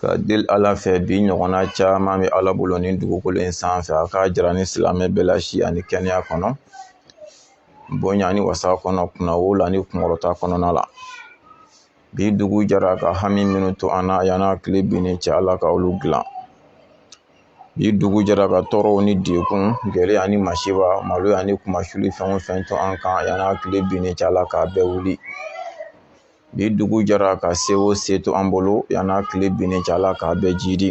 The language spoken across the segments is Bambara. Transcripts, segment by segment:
ka deli ala fɛ bi ɲɔgɔnna caman bɛ ala bolo nin dugukolo in sanfɛ a k'a jira an ni silamɛ bɛɛ la si ani kɛnɛya kɔnɔ bonya ni wasa kɔnɔ kunnawolo ni kunkɔrɔta kɔnɔna la bi dugu jara ka hami minnu to an na yan'a tile binnen cɛ ala ka olu dilan bi dugu jara ka tɔɔrɔw ni degun gɛlɛya ni masiba maloya ni kunmasuli fɛn o fɛn to an kan yan'a tile binnen cɛ ala k'a bɛɛ wuli Bi dugu jara ka se o se to an bolo yan n'a tile binnen cɛ ala k'a bɛɛ jiidi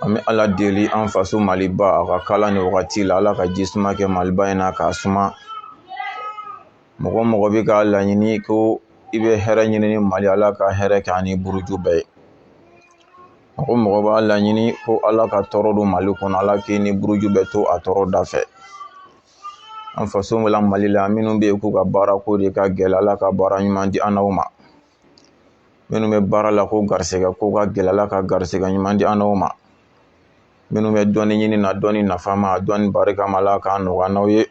an bɛ ala deli an faso maliba a k'a kala nin wagati la ala ka ji suma kɛ maliba in na k'a suma mɔgɔ o mɔgɔ bɛ k'a laɲini ko i bɛ hɛrɛ ɲini ni mali ala ka hɛrɛ kɛ a ni buruju bɛɛ ye mɔgɔ o mɔgɔ b'a laɲini ko ala ka tɔɔrɔ don mali kɔnɔ ala k'i n'i buruju bɛɛ to a tɔɔrɔ da fɛ an faso la mali la minnu bɛ yen k'u ka baara ko de ka gɛlɛ ala ka baara ɲuman di an n'aw ma minnu bɛ baara la ko garisɛgɛ ko ka gɛlɛ ala ka garisɛgɛ ɲuman di an n'aw ma minnu bɛ dɔnni ɲini na dɔnni nafama dɔnni barikama ala k'a nɔgɔya an n'aw ye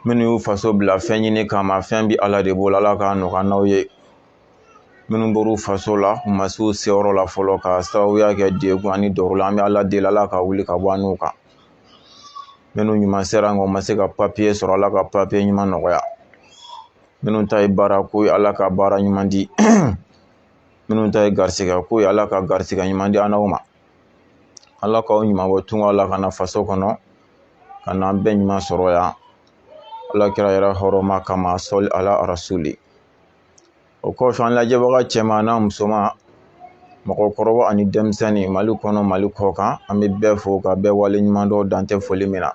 minnu y'u faso bila fɛn ɲini kama fɛn bɛ ala de bolo ala k'a nɔgɔya an n'aw ye minnu bɔr'u faso la u ma s'u seyɔrɔ la fɔlɔ k'a sababuya kɛ degun ani tɔɔrɔ an bɛ ala deli ala k'a wuli ka bɔ an n'u kan minnu ɲuman sera nka u ma se ka papiye sɔrɔ ala ka papiye ɲuman nɔgɔya minnu ta ye baara ko ye ala ka baara ɲuman di minnu ta ye garisigɛ ko ye ala ka garisigɛ ɲuman di an n'aw ma ala k'aw ɲuman bɔ tunga la ka na faso kɔnɔ ka n'an bɛɛ ɲuman sɔrɔ yan ala kira yɛrɛ hɔrɔma kama sɔli ala rasuli o kɔfɛ an lajɛbaga cɛman n'a musoman mɔgɔkɔrɔba ani denmisɛnnin mali kɔnɔ mali kɔ kan an bɛ bɛɛ fo ka bɛɛ waleɲumandɔn dan tɛ foli min na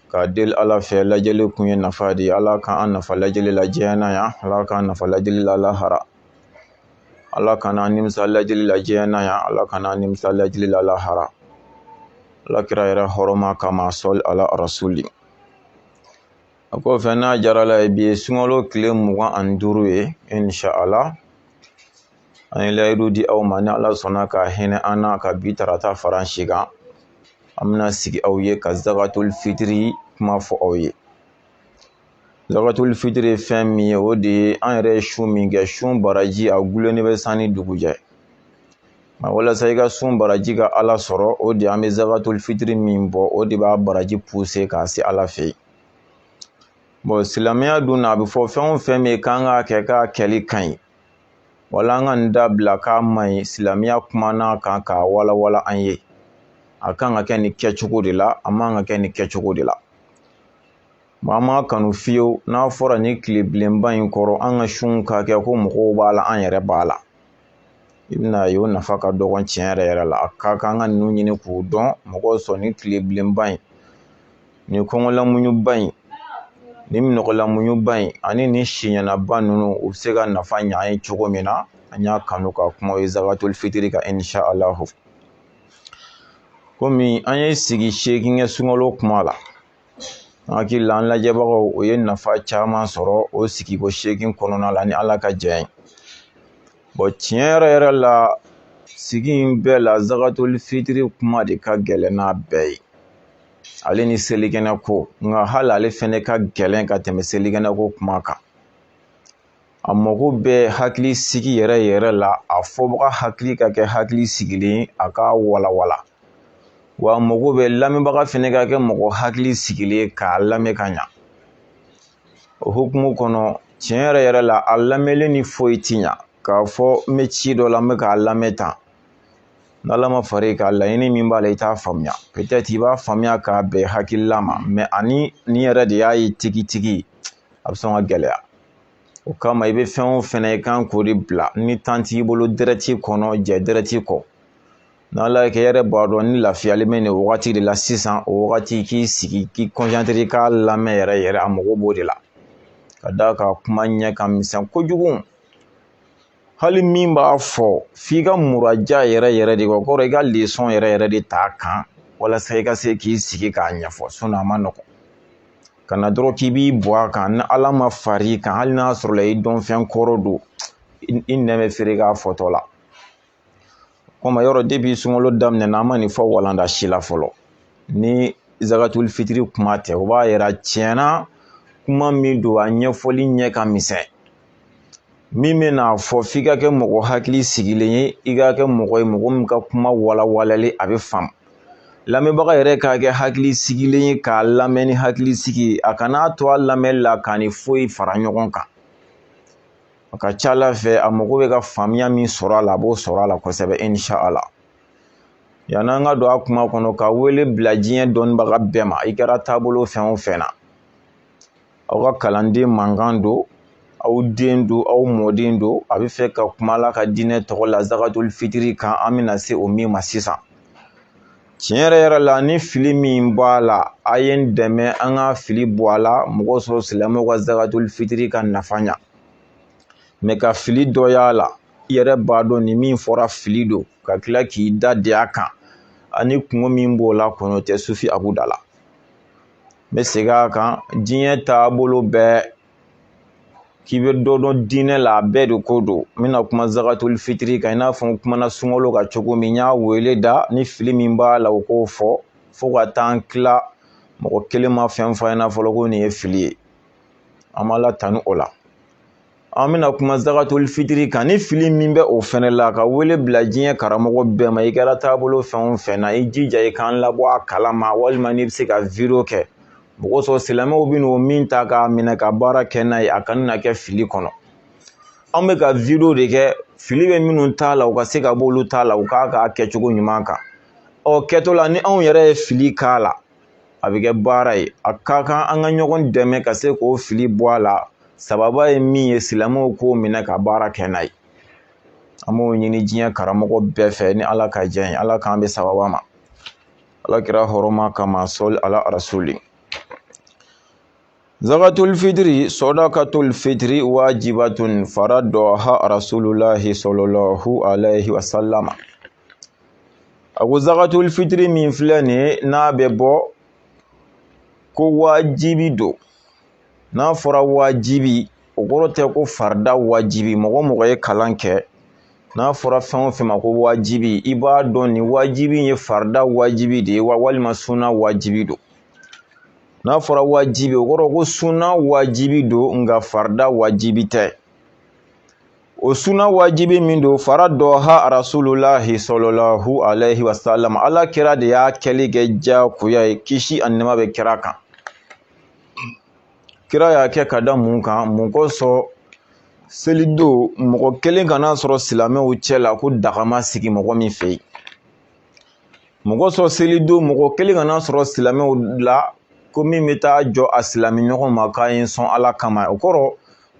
ka deli ala fɛ lajɛli kun ye nafa de ye ala k'an nafa lajɛli la diɲɛ na yan ala k'an nafa lajɛli la lahara ala kana an nimisa lajɛli la diɲɛ na yan ala kana an nimisa lajɛli la lahara ala kira yɛrɛ hɔrɔma kama sɔli ala rasuli a kɔfɛ n'a diyara Ala ye bi ye sunkalo tile mugan ani duuru ye insha Allah an ye layidu di aw ma ni Ala sɔnna ka hinɛ an na ka bi tarata fara an si kan an bɛna sigi aw ye ka zakatul fitiri kuma fɔ aw ye zakatul fitiri ye fɛn min ye o de ye an yɛrɛ ye sun min kɛ sun baraji a dulonnen bɛ san ni dugu cɛ nka walasa i ka sun baraji ka ala sɔrɔ o de an bɛ zakatul fitiri min bɔ o de b'a baraji puse k'a se ala fɛ yen bɔn silamɛya dun na a bɛ fɔ fɛn o fɛn min k'an k'a kɛ k'a kɛli ka ɲi wala an ka nin dabila k'a man ɲi silamɛya kumana a kan k'a walawala an ye a kan ka kɛ nin kɛcogo de la a man kan ka kɛ nin kɛcogo de la maa m'a kanu fiyewu n'a fɔra nin tile bilenba in kɔrɔ an ka sun ka kɛ ko mɔgɔw b'a la an yɛrɛ b'a la i bɛn'a ye o nafa ka dɔgɔn tiɲɛ yɛrɛ yɛrɛ la a ka kan an ka ninnu ɲini k'u dɔn mɔgɔw sɔn nin tile bilenba in nin kɔngɔlamuɲuba in nin minɔgɔlamuɲuba in ani nin siɲɛnaba ninnu u bɛ se ka nafa ɲɛ an ye cogo min na an y'a kanu ka kuma o ye zakatul fitiri kan insha alahu komi an ye sigi seegin kɛ sunkalo kuma la n hakili la an lajɛbagaw u ye nafa caman sɔrɔ o sigiko seegin kɔnɔna la ni ala ka jɛn ye bɔn tiɲɛ yɛrɛ yɛrɛ la sigi in bɛɛ la zakatul fitiri kuma de ka gɛlɛn n'a bɛɛ ye ale ni selikɛnɛ ko nka hali ale fɛnɛ ka gɛlɛn ka tɛmɛ selikɛnɛ ko kuma kan a mago bɛ hakili sigi yɛrɛ yɛrɛ la a fɔbaga hakili ka kɛ hakili sigilen ye a k'a walawala wa a mago bɛ lamɛnbaga fɛnɛ ka kɛ mɔgɔ hakili sigilen ye k'a lamɛn ka ɲa o hukumu kɔnɔ tiɲɛ yɛrɛ yɛrɛ la a lamɛnni ni foyi ti ɲa k'a fɔ n bɛ ci dɔ la n bɛ k'a lamɛn tan n'ala ma far'i kan laɲini min b'a la i t'a faamuya pɛtɛtiri i b'a faamuya k'a bɛn hakilila ma mɛ ani nin yɛrɛ de y'a ye tigitigi a bɛ sɔn ka gɛlɛya o kama i bɛ fɛn o fɛn na i kan k'o de bila ni tan t'i bolo dɛrɛti kɔnɔ jɛ dɛrɛti kɔ n'ala y'a kɛ i yɛrɛ b'a dɔn i lafiyalen bɛ nin wagati de la sisan o wagati k'i sigi k'i kɔnsantire k'a lamɛn yɛrɛ yɛrɛ a mago b'o de la ka d'a kan kuma ɲɛ ka misɛn kojugu hali min b'a fɔ f'i ka muraja yɛrɛ yɛrɛ de kɛ o kɔrɔ i ka lesɔn yɛrɛ yɛrɛ de t'a kan walasa i ka se k'i sigi k'a ɲɛfɔ sinɔn a man nɔgɔn ka na dɔrɔn k'i b'i bɔ a kan ni ala ma far'i kan hali n'a sɔrɔla i dɔnfɛn kɔrɔ don i nɛn bɛ fereke a fɔtɔ la kɔmi yɔrɔ depi sunkalo daminɛna an ma nin fɔ walanda si la fɔlɔ ni zakatul fitiri kuma tɛ o b'a yira tiɲɛna kuma min don a ɲɛfɔli ɲɛ ka misɛn min bɛn'a fɔ f'i ka kɛ mɔgɔ hakili sigilen ye i ka kɛ mɔgɔ ye mɔgɔ min ka kuma walawalalen a bɛ faamu lamɛnbaga yɛrɛ ka kɛ hakili sigilen ye k'a lamɛn ni hakili sigi ye a kana to a lamɛnni la k'a ni foyi fara ɲɔgɔn kan A ka ca ala fɛ a mago bɛ ka faamuya min sɔrɔ a la a b'o sɔrɔ a la kosɛbɛ inshallah yann'an ka don a kuma kɔnɔ ka wele bila diɲɛ dɔnnibaga bɛɛ ma i kɛra taabolo fɛn o fɛn na aw ka kalanden mankan don aw den don aw mɔden don a b'a fɛ ka kuma ala ka diinɛ tɔgɔ la zakatuli fitiri kan an bɛna se o min ma sisan tiɲɛ yɛrɛ yɛrɛ la ni fili min b'a la a ye n dɛmɛ an ka fili bɔ a la mun kosɔn silamɛw ka zakatuli fitiri ka nafa ɲa mɛ ka fili dɔ y'a la i yɛrɛ b'a dɔn ni min fɔra fili don ka tila k'i da de a kan ani kunko min b'o la kɔnɔ tɛ sufi abu da la n bɛ segin a kan diɲɛ taabolo bɛɛ k'i bɛ dɔ dɔn diinɛ la a bɛɛ de ko don n bɛna kuma zakatuli fitiri kan i n'a fɔ n kumana sunkalo kan cogo min n ye wele da ni fili min b'a la o k'o fɔ fo ka taa n tila mɔgɔ kelen ma fɛn fɔ a ɲɛna fɔlɔ ko nin ye fili ye an b'ala tanu o la an bɛna kuma zakatuli fitiri kan ni fili min bɛ o fɛnɛ la ka wele bila diɲɛ karamɔgɔ bɛɛ ma i kɛra taabolo fɛn o fɛn na i jija i k'an labɔ a kalama walima n'i bɛ se ka wideyo kɛ mun kosɔn silamɛw bɛ n'o min ta k'a minɛ ka baara kɛ n'a ye a kana na kɛ fili kɔnɔ an bɛ ka wideyo de kɛ fili bɛ minnu ta la u ka se ka b'olu ta la u k'a k'a kɛcogo ɲuman kan o kɛtɔ la ni anw yɛrɛ ye fili k'a la a bɛ kɛ baara ye a ka kan an ka ɲɔgɔn dɛmɛ ka se k'o fili bɔ a la sababa ye min ye silamɛw k'o minɛ ka baara kɛ n'a ye an b'o ɲini diɲɛ karamɔgɔ bɛɛ fɛ ni ala ka diɲɛ ye ala k'an bɛn sababa ma ala kira hɔrɔma kama sɔli ala rasuli Zakatuli fitiri sadakatuli fitiri wajibatun faradaha rasulullahi sallallahu alayhi wa sallam a ko zakatuli fitiri min filɛ nin ye n'a bɛ bɔ ko wajibi don n'a fɔra wajibi o kɔrɔ tɛ ko farida wajibi mɔgɔ mɔgɔ ye kalan kɛ n'a fɔra fɛn o fɛn ma ko wajibi i b'a dɔn nin wajibi ye farida wajibi de ye wa walima suna wajibi don n'a fɔra wajibi o kɔrɔ ko sunna wajibi don nka farida wajibi tɛ o sunna wajibi min don faradaha rasulullahi sallallahu alayhi wa sallam ala kira de y'a kɛli kɛ diyagoya ye kisi ani nɛɛma bɛ kira kan kira y'a kɛ ka da mun kan mun kosɔn selidon mɔgɔ kelen kana sɔrɔ silamɛw cɛ la ko daga ma sigi mɔgɔ min fɛ yen mɔgɔ sɔrɔ selidon mɔgɔ kelen kana sɔrɔ silamɛw la ko min bɛ taa jɔ a silamɛ ɲɔgɔn ma k'a ye sɔn ala kama o kɔrɔ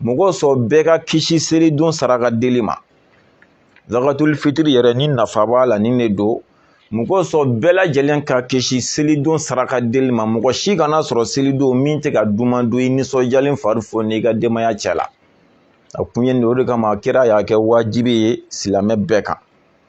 mɔgɔ sɔrɔ bɛɛ ka kisi selidon saraka deli ma zakatul fitiri yɛrɛ ni nafa b'a la nin de don mɔgɔ sɔrɔ bɛɛ lajɛlen ka kisi selidon saraka deli ma mɔgɔ si kana sɔrɔ selidon min tɛ ka duman don i nisɔndiyalen fari fo n'i ka denbaya cɛ la a kun ye nin o de kama kira y'a kɛ wajibi ye silamɛ bɛɛ kan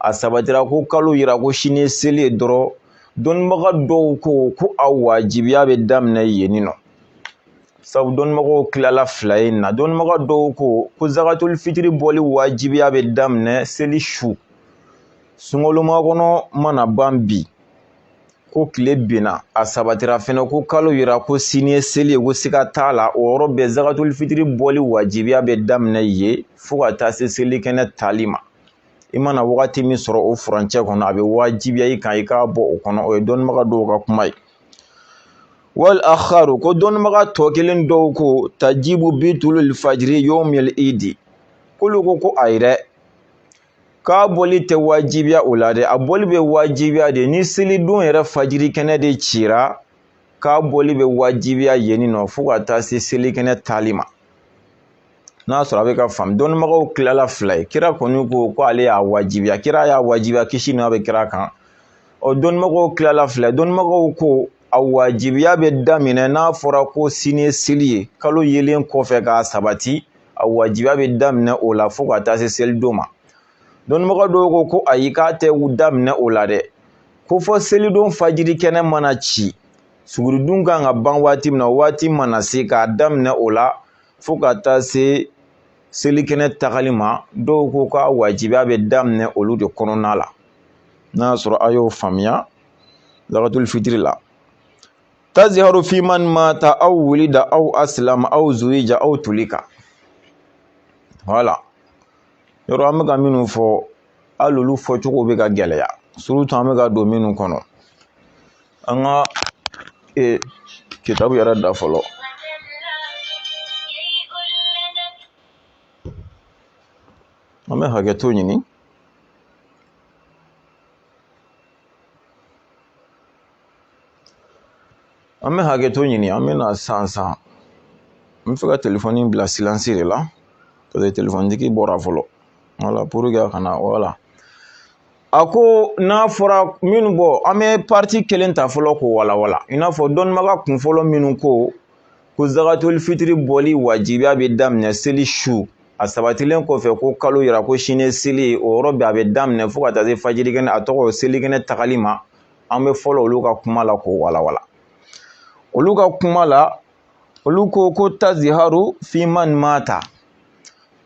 a sabatira ko kalo yira ko sini ye seli ye dɔrɔn dɔnnibaga dɔw ko ko a wajibiya bɛ daminɛ yen nɔ sabu dɔnnibagaw tilala fila ye na dɔnnibaga dɔw ko ko zakatul fitiri bɔli wajibiya bɛ daminɛ seli su sunkalo makɔnɔ mana ban bi ko tile binna a sabatira fɛnɛ ko kalo yira ko sini ye seli ye ko siga t'a la o yɔrɔ bɛɛ zakatul fitiri bɔli wajibiya bɛ daminɛ yen fo ka taa se selikɛnɛ taali ma i mana wagati min sɔrɔ o furancɛ kɔnɔ a bɛ wajibiya i kan i k'a bɔ o kɔnɔ o ye dɔnnibaga dɔw ka kuma ye wal akharu ko dɔnnibaga tɔ kelen dɔw ko tajibu bi tulul fajiri yawmil idi k'olu ko ko ayi dɛ k'a bɔli tɛ wajibiya o la dɛ a bɔli bɛ wajibiya de ni selidon yɛrɛ fajiri kɛnɛ de cira k'a bɔli bɛ wajibiya yen nɔ fo ka taa se selikɛnɛ taali ma n'a sɔrɔ a bɛ ka faamu dɔnnibagaw tilala fila ye kira kɔni ko ko ale y'a wajibiya kira y'a wajibiya kisi n'a bɛ kira kan ɔ dɔnnibagaw tilala fila dɔnnibagaw ko a wajibiya bɛ daminɛ n'a fɔra ko sini ye seli ye kalo yelen kɔfɛ k'a sabati a wajibiya bɛ daminɛ o la fo ka taa se selidon ma dɔnnibaga dɔw ko ko ayi k'a tɛ daminɛ o la dɛ ko fo selidon fajiri kɛnɛ mana ci suguridun ka kan ka ban waati min na waati mana se k'a daminɛ o la fo ka taa se selikɛnɛ tagali ma dɔw ko k'a wajibiya bɛ daminɛ olu de kɔnɔna la n'a y'a sɔrɔ a y'o faamuya zakatul fitiri la taziharu fi man mata aw wulida aw aslama aw zuwija aw tulika voilà yɔrɔ an bɛ ka minnu fɔ hali olu fɔcogo bɛ ka gɛlɛya surtout an bɛ ka don minnu kɔnɔ an ka kitabu yɛrɛ da fɔlɔ an bɛ hakɛto ɲini an bɛ hakɛto ɲini an bɛ na san san n b'a fɛ ka telefɔni bila silence de la parce que telefɔni tigi bɔra fɔlɔ voilà pour que a kana voilà A ko n'a fɔra minnu bɔ an bɛ parti kelen ta fɔlɔ k'o walanwalan i n'a fɔ dɔnnibaga kun fɔlɔ minnu ko ko zagatuli fitiri bɔli wajibiya bɛ daminɛ seli su a sabatilen kɔfɛ ko kalo yira ko sini seli o yɔrɔ bɛɛ a bɛ daminɛ fo ka taa se fajirikɛnɛ a tɔgɔ selikɛnɛ tagali ma an bɛ fɔlɔ olu ka kuma la k'o walanwalan olu ka kuma la olu ko ko taziharu fi man mata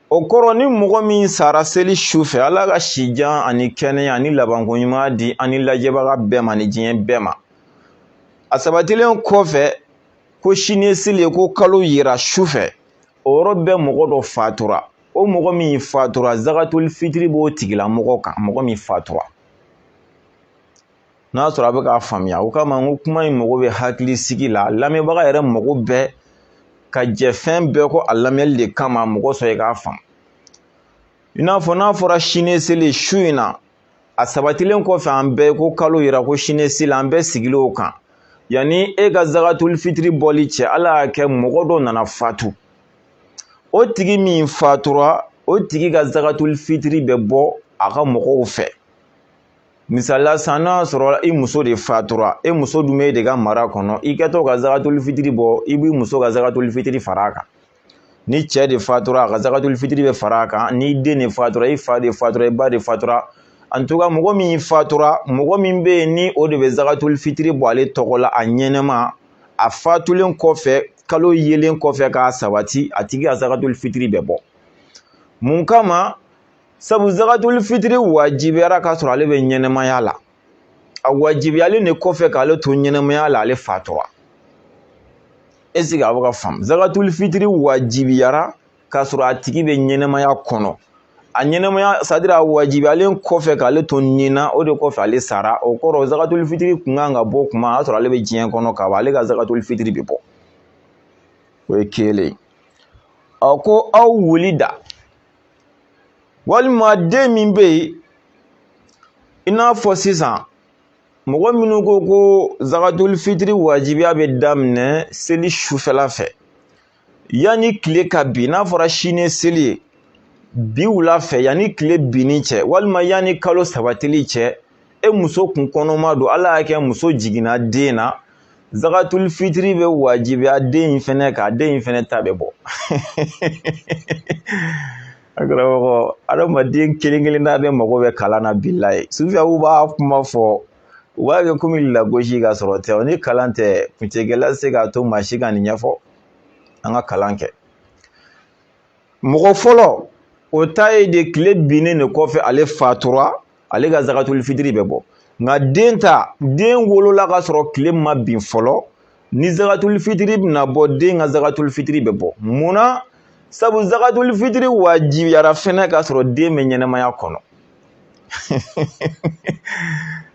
o kɔrɔ ni mɔgɔ min sara seli su fɛ ala ka sijan ani kɛnɛya ani labanko ɲuman di an ni lajɛbaga bɛɛ ma ni diɲɛ bɛɛ ma a sabatilen kɔfɛ ko sini seli ko kalo yira su fɛ o yɔrɔ bɛɛ mɔgɔ dɔ fatura o mɔgɔ min fatura zagatuli fitiri b'o tigilamɔgɔ kan mɔgɔ min fatura n'a sɔrɔ a bɛ k'a faamuya o kama n ko kuma in mago bɛ hakili sigi la lamɛnbaga yɛrɛ mago bɛ ka jɛ fɛn bɛɛ kɔ a lamɛnli de kama mɔgɔ sɔrɔ i k'a faamu i n'a fɔ n'a fɔra sini seli su in na a sabatilen kɔfɛ an bɛɛ ko kalo yira ko sini seli an bɛɛ sigilen o kan yanni e ka zagatuli fitiri bɔli cɛ ala y'a kɛ mɔgɔ dɔ nana fatu o tigi min fatura o tigi ka zagatuli fitiri bɛ bɔ a ka mɔgɔw fɛ misali la san n'a sɔrɔ i muso de fatura e muso dun b'e de ka mara kɔnɔ i kɛtɔ ka zagatuli fitiri bɔ i b'i muso ka zagatuli fitiri fara a kan ni cɛ de fatura a ka zagatuli fitiri bɛ fara a kan ni den de fatura i fa de fatura i ba de fatura en tout cas mɔgɔ min fatura mɔgɔ min bɛ yen ni o de bɛ zagatuli fitiri bɔ ale tɔgɔ la a ɲɛnɛma a fatulen kɔfɛ kalo yelen kɔfɛ k'a sabati a tigi ka zagatuli fitiri bɛ bɔ mun kama sabu zakatul fitiri wajibiyara k'a sɔrɔ ale bɛ ɲɛnɛmaya la a wajibiyalen de kɔfɛ k'ale to ɲɛnɛmaya la ale fatura est ce que a bɛ k'a faamu zakatul fitiri wajibiyara k'a sɔrɔ a tigi bɛ ɲɛnɛmaya kɔnɔ a ɲɛnɛmaya c'est à dire a wajibiyalen kɔfɛ k'ale to nin na o de kɔfɛ ale sara o kɔrɔ zakatul fitiri kun kan ka bɔ kuma a y'a sɔrɔ ale bɛ diɲɛ kɔnɔ ka ban ale ka zakatul fitiri bɛ bɔ o ye kelen a ko aw wulida walima den min bɛ yen i n'a fɔ sisan mɔgɔ minnu ko ko zagatuli fitiri wajibiya bɛ daminɛ seli sufɛla fɛ yanni tile ka bin n'a fɔra sini seli ye bi wula fɛ yanni tile binni cɛ walima yanni kalo sabatili cɛ e muso kun kɔnɔma don ala y'a kɛ muso jiginna den na zagatuli fitiri bɛ wajibiya den in fɛnɛ kan den in fɛnɛ ta bɛ bɔ a karamɔgɔ adamaden kelen kelenna bɛɛ mago bɛ kalan na bilayi sufiyaw b'a kuma fɔ u b'a kɛ komi lagosi k'a sɔrɔ tɛ o ni kalan tɛ kuncɛkɛla se k'a to maa si ka nin ɲɛfɔ an ka kalan kɛ mɔgɔ fɔlɔ o ta ye de tile binnen de kɔfɛ ale fatura ale ka zakatuli fitiri bɛ bɔ nka den ta den wolola ka sɔrɔ tile ma bin fɔlɔ ni zakatuli fitiri bɛna bɔ den ka zakatuli fitiri bɛ bɔ munna sabu zakatuli fitiri wajibiyara fɛnɛ ka sɔrɔ den bɛ ɲɛnamaya kɔnɔ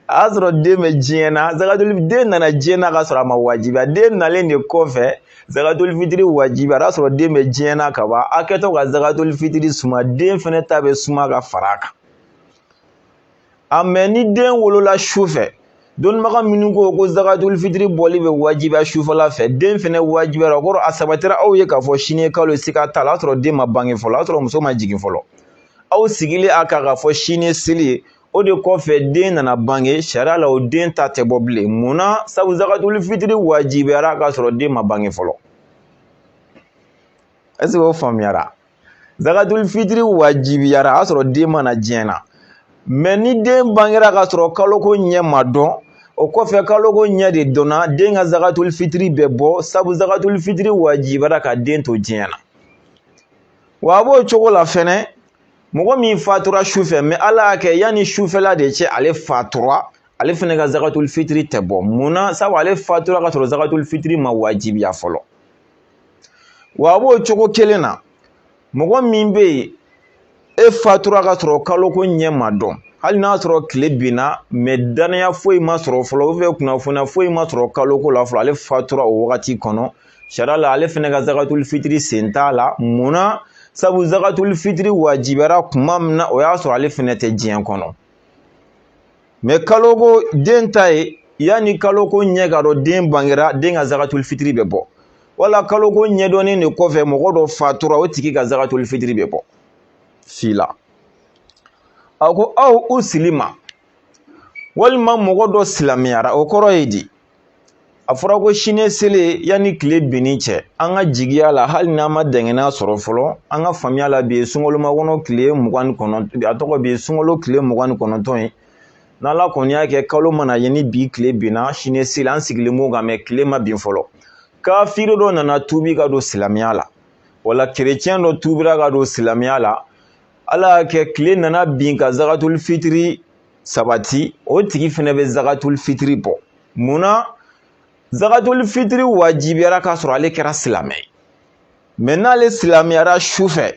a y'a sɔrɔ den bɛ diɲɛ na zakatuli den nana diɲɛ na ka sɔrɔ a ma wajibiya den nalen de kɔfɛ zakatuli fitiri wajibiyara a y'a sɔrɔ den bɛ diɲɛ na ka ban a kɛtɔ ka zakatuli fitiri suma den fɛnɛ ta bɛ suma ka fara a kan a mɛ ni den wolola su fɛ dɔnnibaga minnu ko ko zakatul fitiri bɔli bɛ wajibiya sufɛla fɛ den fɛnɛ wajibiyara o kɔrɔ a sabatira aw ye k'a fɔ sini ye kalo siga t'a la a y'a sɔrɔ den ma bange fɔlɔ a y'a sɔrɔ muso ma jigin fɔlɔ aw sigilen a kan k'a fɔ sini ye seli ye o de kɔfɛ den nana bange sariya la o den ta tɛ bɔ bilen mun na sabu zakatul fitiri wajibiyara k'a sɔrɔ den ma bange fɔlɔ est-ce que o faamuyara zakatul fitiri wajibiyara a y'a sɔrɔ den ma na diɲɛ na mɛ ni den bangera k'a sɔrɔ kaloko ɲɛ ma dɔn o kɔfɛ kaloko ɲɛ de dɔnna den ka zakatul fitiri bɛ bɔ sabu zakatul fitiri wajibiyara ka den to diɲɛ na wa a b'o cogo la fɛnɛ mɔgɔ min fatura su fɛ mɛ ala y'a kɛ yanni sufɛla de cɛ ale fatura ale fɛnɛ ka zakatul fitiri tɛ bɔ mun na sabu ale fatura ka sɔrɔ zakatul fitiri ma wajibiya fɔlɔ wa a b'o cogo kelen na mɔgɔ min bɛ yen e fatura ka sɔrɔ kaloko ɲɛ ma dɔn hali n'a sɔrɔ tile binna mɛ dannaya foyi ma sɔrɔ fɔlɔ ou bien kunnafoniya foyi ma sɔrɔ kaloko la fɔlɔ ale fatura o wagati kɔnɔ sariya la ale fɛnɛ ka zakatuli fitiri sen t'a la mun na sabu zakatuli fitiri wajibiyara kuma min na o y'a sɔrɔ ale fɛnɛ tɛ diɲɛ kɔnɔ mɛ kaloko den ta ye yanni kaloko ɲɛ ka dɔn den bangera den ka zakatuli fitiri bɛ bɔ wala kaloko ɲɛdɔnnen de kɔfɛ mɔgɔ dɔ fatura o tigi ka zakatuli fitiri bɛ bɔ si la a ko aw uslima walima mɔgɔ dɔ silamɛyara o kɔrɔ ye di a fɔra ko sini seli yanni tile binni cɛ an ka jigiya la hali n'an ma dɛngɛnɛya sɔrɔ fɔlɔ an ka faamuya la bi ye sunkalo kɔnɔ tile mugan ni kɔnɔntɔn a tɔgɔ bi sunkalo tile mugan ni kɔnɔntɔn ye n'ala kɔni y'a kɛ kalo mana ye ni bi tile binna sini seli an sigilen b'o kan mɛ tile ma bin fɔlɔ kafiri dɔ nana tuubi ka don silamɛya la wala kerecɛn dɔ tuubira ka don silamɛya la ala y'a kɛ tile nana bin ka zakatuli fitiri sabati o tigi fɛnɛ bɛ zakatuli fitiri bɔ mun na zakatuli fitiri wajibiyara k'a sɔrɔ ale kɛra silamɛ ye mɛ n'ale silamɛyara su fɛ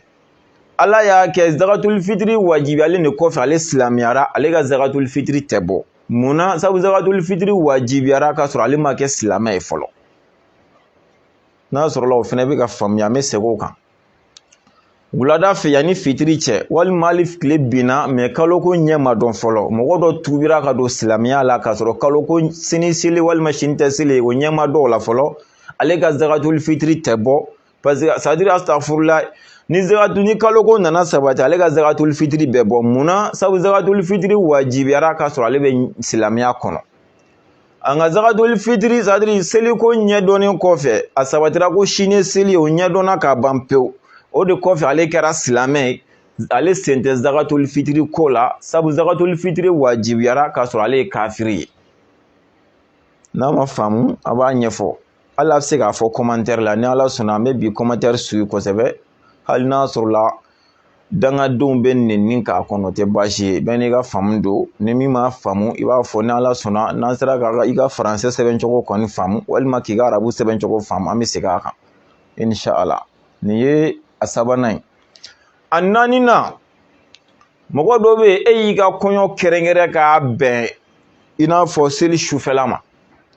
ala y'a kɛ zakatuli fitiri wajibiyalen de kɔfɛ ale silamɛyara ale ka zakatuli fitiri tɛ bɔ mun na sabu zakatuli fitiri wajibiyara k'a sɔrɔ ale ma kɛ silamɛ ye fɔlɔ n'a sɔrɔla o fɛnɛ bɛ ka faamuya an bɛ segin o kan wulada fɛ yanni fitiri cɛ walima hali tile binna mɛ kaloko ɲɛ ma dɔn fɔlɔ mɔgɔ dɔ tuubira ka don silamɛya la k'a sɔrɔ kaloko sini seli walima sini tɛ seli o ɲɛ ma dɔn o la fɔlɔ ale ka zagatuli fitiri tɛ bɔ paseke sadiri asitafurula ni kaloko nana sabati ale ka zagatuli fitiri bɛ bɔ munna sabu zagatuli fitiri wajibiyara k'a sɔrɔ ale bɛ silamɛya kɔnɔ an ka zagatoli fitiri sadiri seliko ɲɛdɔnnen kɔfɛ a sabatira ko sini seli o ɲɛdɔnna ka ban pewu o de kɔfɛ ale kɛra silamɛ ye ale sen tɛ zagatoli fitiri ko la sabu zagatoli fitiri wajibiyara k'a sɔrɔ ale ye kafiri ye n'a ma faamu a b'a ɲɛfɔ hali a bɛ se k'a fɔ kɔmantɛri la ni ala sɔnna an bɛ bi kɔmantɛri suyi kosɛbɛ hali n'a sɔrɔla dangadenw bɛ nɛni k'a kɔnɔ o tɛ baasi ye bɛɛ n'i ka faamu don ni min m'a faamu i b'a fɔ ni ala sɔnna n'an sera ka i ka faransɛ sɛbɛncogo kɔni faamu walima k'i ka arabu sɛbɛncogo faamu an bɛ segin a kan inshala nin ye a sabanan ye a naaninan mɔgɔ dɔ bɛ yen e y'i ka kɔɲɔ kɛrɛnkɛrɛn k'a bɛn i n'a fɔ seli sufɛla ma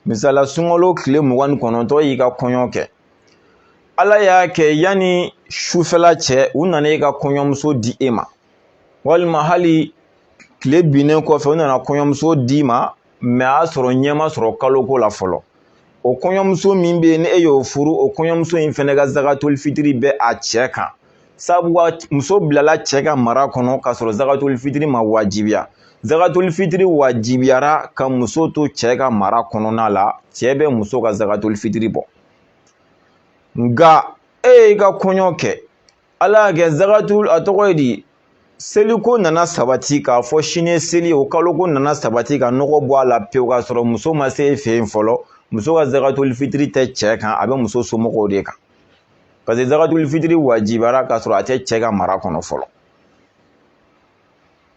misala sunkalo tile mugan ni kɔnɔntɔn y'i ka kɔɲɔ kɛ ala y'a kɛ yanni sufɛla cɛ u nana e ka kɔɲɔmuso di e ma walima hali tile binnen kɔfɛ u nana kɔɲɔmuso d'i ma mɛ a y'a sɔrɔ ɲɛ ma sɔrɔ kaloko la fɔlɔ o kɔɲɔmuso min bɛ yen ni e y'o furu o kɔɲɔmuso in fɛnɛ ka zagatoli fitiri bɛ a cɛ kan sabu muso bilala cɛ ka mara kɔnɔ k'a sɔrɔ zakatuli fitiri ma wajibiya zakatuli fitiri wajibiyara ka muso to cɛ ka mara kɔnɔna la cɛ bɛ muso ka zakatuli fitiri bɔ nka e y'i ka kɔɲɔ kɛ ala y'a kɛ zakatuli a tɔgɔ ye di seliko nana sabati k'a fɔ sini seli o kaloko nana sabati ka nɔgɔ bɔ a la pewu k'a sɔrɔ muso ma se e fɛ yen fɔlɔ muso ka zakatuli fitiri tɛ cɛ kan a bɛ muso somɔgɔw de kan paseke zagatuli fitiri wajibiyara k'a sɔrɔ a tɛ cɛ ka mara kɔnɔ fɔlɔ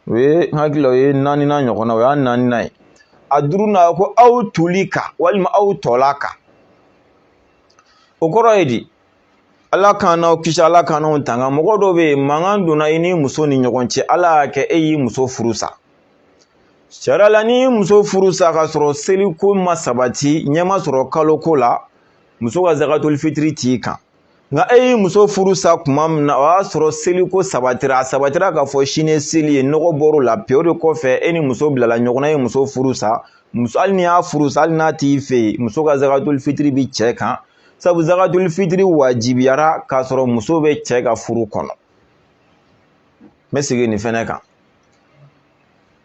o ye n hakili la o ye naaninan ɲɔgɔn na o y'a naaninan ye a duurunan ko aw tulika walima aw tɔlaka o kɔrɔ ye di ala k'an n'aw kisi ala k'an n'aw tanga mɔgɔ dɔw bɛ yen mankan donna i ni muso ni ɲɔgɔn cɛ ala y'a kɛ e y'i muso furu sa sariya la n'i y'i muso furu sa k'a sɔrɔ seliko ma sabati ɲɛ ma sɔrɔ kaloko la muso ka zakatuli fitiri t'i kan nka e y'i muso furu sa tuma min na o y'a sɔrɔ seliko sabatira a sabatira k'a fɔ sini seli ye nɔgɔ bɔr'o la pewu o de kɔfɛ e ni muso bilala ɲɔgɔn na e ye muso furu sa hali n'i y'a furu sa hali n'a t'i fɛ yen muso ka zakatuli fitiri bi cɛ kan sabu zakatuli fitiri wajibiyara k'a sɔrɔ muso bɛ cɛ ka furu kɔnɔ n bɛ segin nin fɛnɛ kan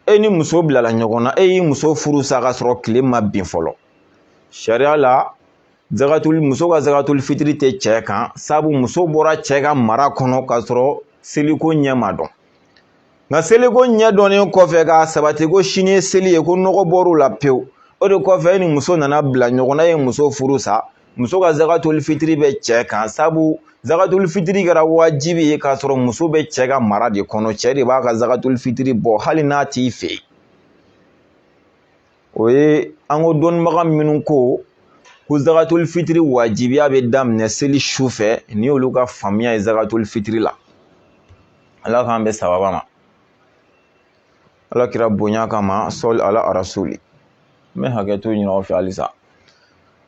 e ni muso bilala ɲɔgɔn na e y'i muso furu sa k'a sɔrɔ tile ma bin fɔlɔ sariya la zagatuli muso ka zagatuli fitiri tɛ cɛ kan sabu muso bɔra cɛ ka mara kɔnɔ k'a sɔrɔ seliko ɲɛ ma dɔn nka seliko ɲɛ dɔnnen kɔfɛ k'a sabati ko sini ye seli ye ko nɔgɔ bɔr'o la pewu o de kɔfɛ e ni muso nana bila ɲɔgɔn na e ye muso furu sa muso ka zakatuli fitiri bɛ cɛ kan sabu zakatuli fitiri kɛra wajibi ye k'a sɔrɔ muso bɛ cɛ ka mara de kɔnɔ cɛ de b'a ka zakatuli fitiri bɔ hali n'a t'i fɛ yen o ye an ko dɔnnibaga minnu ko ko zakatuli fitiri wajibiya bɛ daminɛ seli su fɛ ni olu ka faamuya ye zakatuli fitiri la ala k'an bɛɛ sababa ma ala kira bonya kama sɔli ala arasuli n bɛ hakɛto ɲin'aw fɛ halisa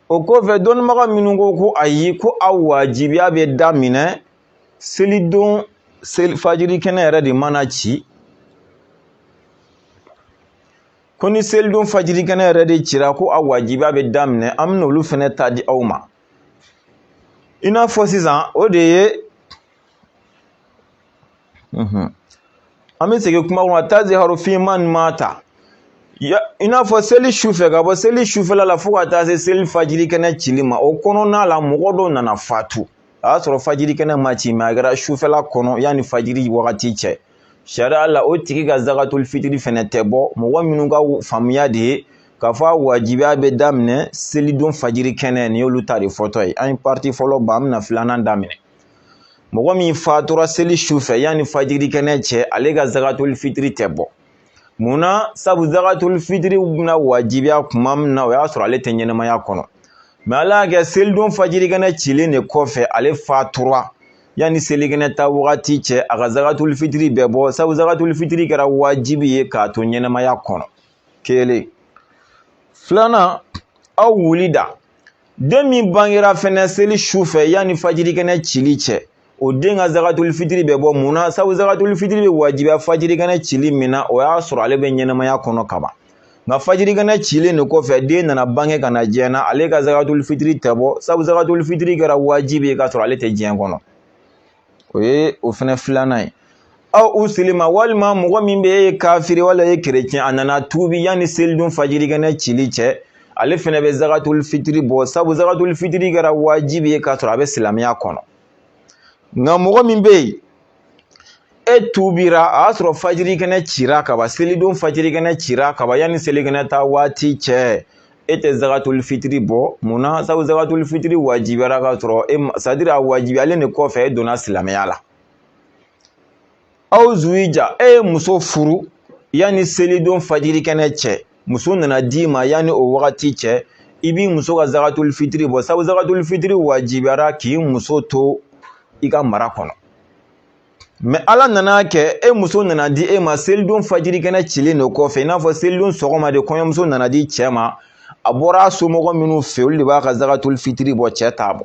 O kɔfɛ dɔnnibaga minnu ko ko ayi ko a wajibiya bɛ daminɛ selidon seli fajiri kɛnɛ yɛrɛ de mana ci ko ni selidon fajiri kɛnɛ yɛrɛ de cira ko a wajibiya bɛ daminɛ an bɛna olu fɛnɛ ta di aw ma i n'a fɔ sisan o de ye an bɛ segin kuma kɔnɔ taziharu fi man mata i n'a fɔ seli su fɛ ka bɔ seli sufɛla la fo ka taa se seli fajiri kɛnɛ cili ma o kɔnɔna la mɔgɔ dɔ nana fatu a y'a sɔrɔ fajiri kɛnɛ ma ci mɛ a kɛra sufɛla kɔnɔ yanni fajiri wagati cɛ sariya la o tigi ka zakatoli fitiri fɛnɛ tɛ bɔ mɔgɔ minnu ka faamuya de ye k'a fɔ a wajibiya bɛ daminɛ selidon fajiri kɛnɛ nin y'olu ta de fɔtɔ ye an ye pariti fɔlɔ ban an bɛna filanan daminɛ mɔgɔ min fatura seli su fɛ yanni fajiri kɛnɛ cɛ ale ka zakatuli fitiri tɛ bɔ munna sabu zakatuli fitiri bɛna wajibiya kuma min na o y'a sɔrɔ ale tɛ ɲɛnɛmaya kɔnɔ mɛ ala y'a kɛ selidon fajiri kɛnɛ cilen de kɔfɛ ale fatura yanni selikɛnɛ ta wagati cɛ a ka zakatuli fitiri bɛ bɔ sabu zakatuli fitiri kɛra wajibi ye k'a to ɲɛnɛmaya kɔnɔ kelen filanan aw wulida den min bangera fɛnɛ seli su fɛ yanni fajiri kɛnɛ cili cɛ o den ka zagatuli fitiri bɛ bɔ mun na sabu zagatuli fitiri bɛ wajibiya fajiri kɛnɛ cili min na o y'a sɔrɔ ale bɛ ɲɛnɛmaya kɔnɔ kaban nka fajiri kɛnɛ cilen de kɔfɛ den nana bange ka na diɲɛ na ale ka zagatuli fitiri tɛ bɔ sabu zagatuli fitiri kɛra wajibi ye k'a sɔrɔ ale tɛ diɲɛ kɔnɔ o ye o fɛnɛ filanan ye aw usilima walima mɔgɔ min bɛ e ye kafiri wala e ye kerecɛn a nana tuubi yanni selidon fajirikɛnɛ cili cɛ ale fɛnɛ bɛ zagatuli fitiri bɔ sabu zagatuli fitiri kɛra wajibi ye k'a sɔrɔ a bɛ silamɛya kɔnɔ nka mɔgɔ min bɛ yen e tuubira a y'a sɔrɔ fajirikɛnɛ cira kaban selidon fajirikɛnɛ cira kaban yanni selikɛnɛ ta waati cɛ e tɛ zakatuli fitiri bɔ mun na sabu zakatuli fitiri wajibiyara ka sɔrɔ sɛtadiri a wajibiyalen de kɔfɛ e donna silamɛya la aw zuwija e ye muso furu yanni selidon fajiri kɛnɛ cɛ muso nana d'i ma yanni o wagati cɛ i b'i muso ka zakatuli fitiri bɔ sabu zakatuli fitiri wajibiyara k'i muso to i ka mara kɔnɔ mɛ ala nana kɛ e muso nana di e ma selidon fajirikɛnɛ cilen de kɔfɛ i n'a fɔ selidon sɔgɔma de kɔɲɔmuso nana di cɛ ma a bɔra a somɔgɔ minnu fɛ olu de b'a ka zagatuli fitiri bɔ cɛ t'a bɔ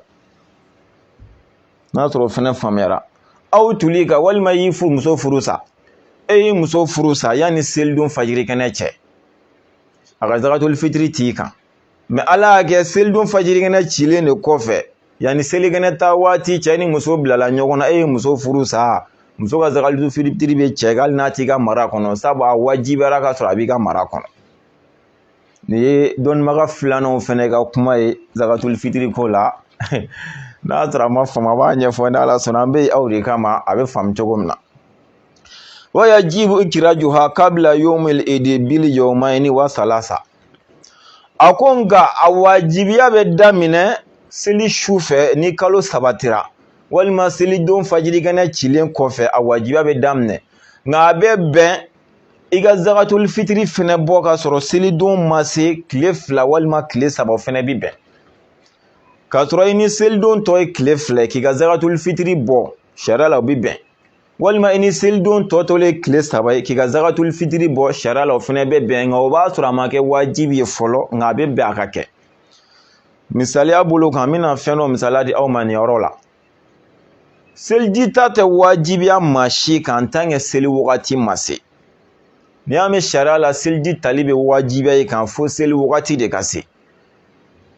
n'a sɔrɔ o fɛnɛ faamuyara aw tulika walima i y'i muso furu sa e y'i muso furu sa yanni selidon fajirikɛnɛ cɛ a ka zagatuli fitiri t'i kan mɛ ala y'a kɛ selidon fajirikɛnɛ cilen de kɔfɛ yanni selikɛnɛ taa waati cɛ ni muso bilala ɲɔgɔn na e ye muso furu sa muso ka zagatuli fitiri bɛ cɛ hali n'a t'i ka mara kɔnɔ sabu a wajibiyara ka sɔrɔ a b'i ka mara kɔnɔ nin ye dɔnnibaga filananw fɛnɛ ka kuma ye zagatuli fitiri ko la n'a sɔrɔ a ma faamu a b'a ɲɛfɔ ni ala sɔnna an bɛ aw de kama a bɛ faamu cogo min na wayajibu ikirajuha kabila yawmil idi bil yawmaini wa salasa a ko nka a wajibiya bɛ daminɛ seli su fɛ ni kalo sabatira walima selidon fajirikɛnɛ cilen kɔfɛ a wajibiya bɛ daminɛ nka a bɛ bɛn i ka zagatoli fitiri fɛnɛ bɔ ka sɔrɔ selidon ma se tile fila walima tile saba fɛnɛ bi bɛn k'a sɔrɔ i ni selidon tɔ ye tile fila k'i ka zagatoli fitiri bɔ sariya la o bi bɛn walima i ni selidon tɔ tolen ye tile saba ye k'i ka zagatuli fitiri bɔ sariya la o fɛnɛ bɛ bɛn nka o b'a sɔrɔ a ma kɛ wajibi ye fɔlɔ nka a bɛ bɛn a ka kɛ misaliya bolo kan n bɛna fɛn dɔ misaliya di aw ma nin yɔrɔ la seliji ta tɛ wajibiya maa si kan tanke seli wagati ma se n'i y'a mɛn sariya la seliji tali bɛ wajibiya i kan fo seli wagati de ka se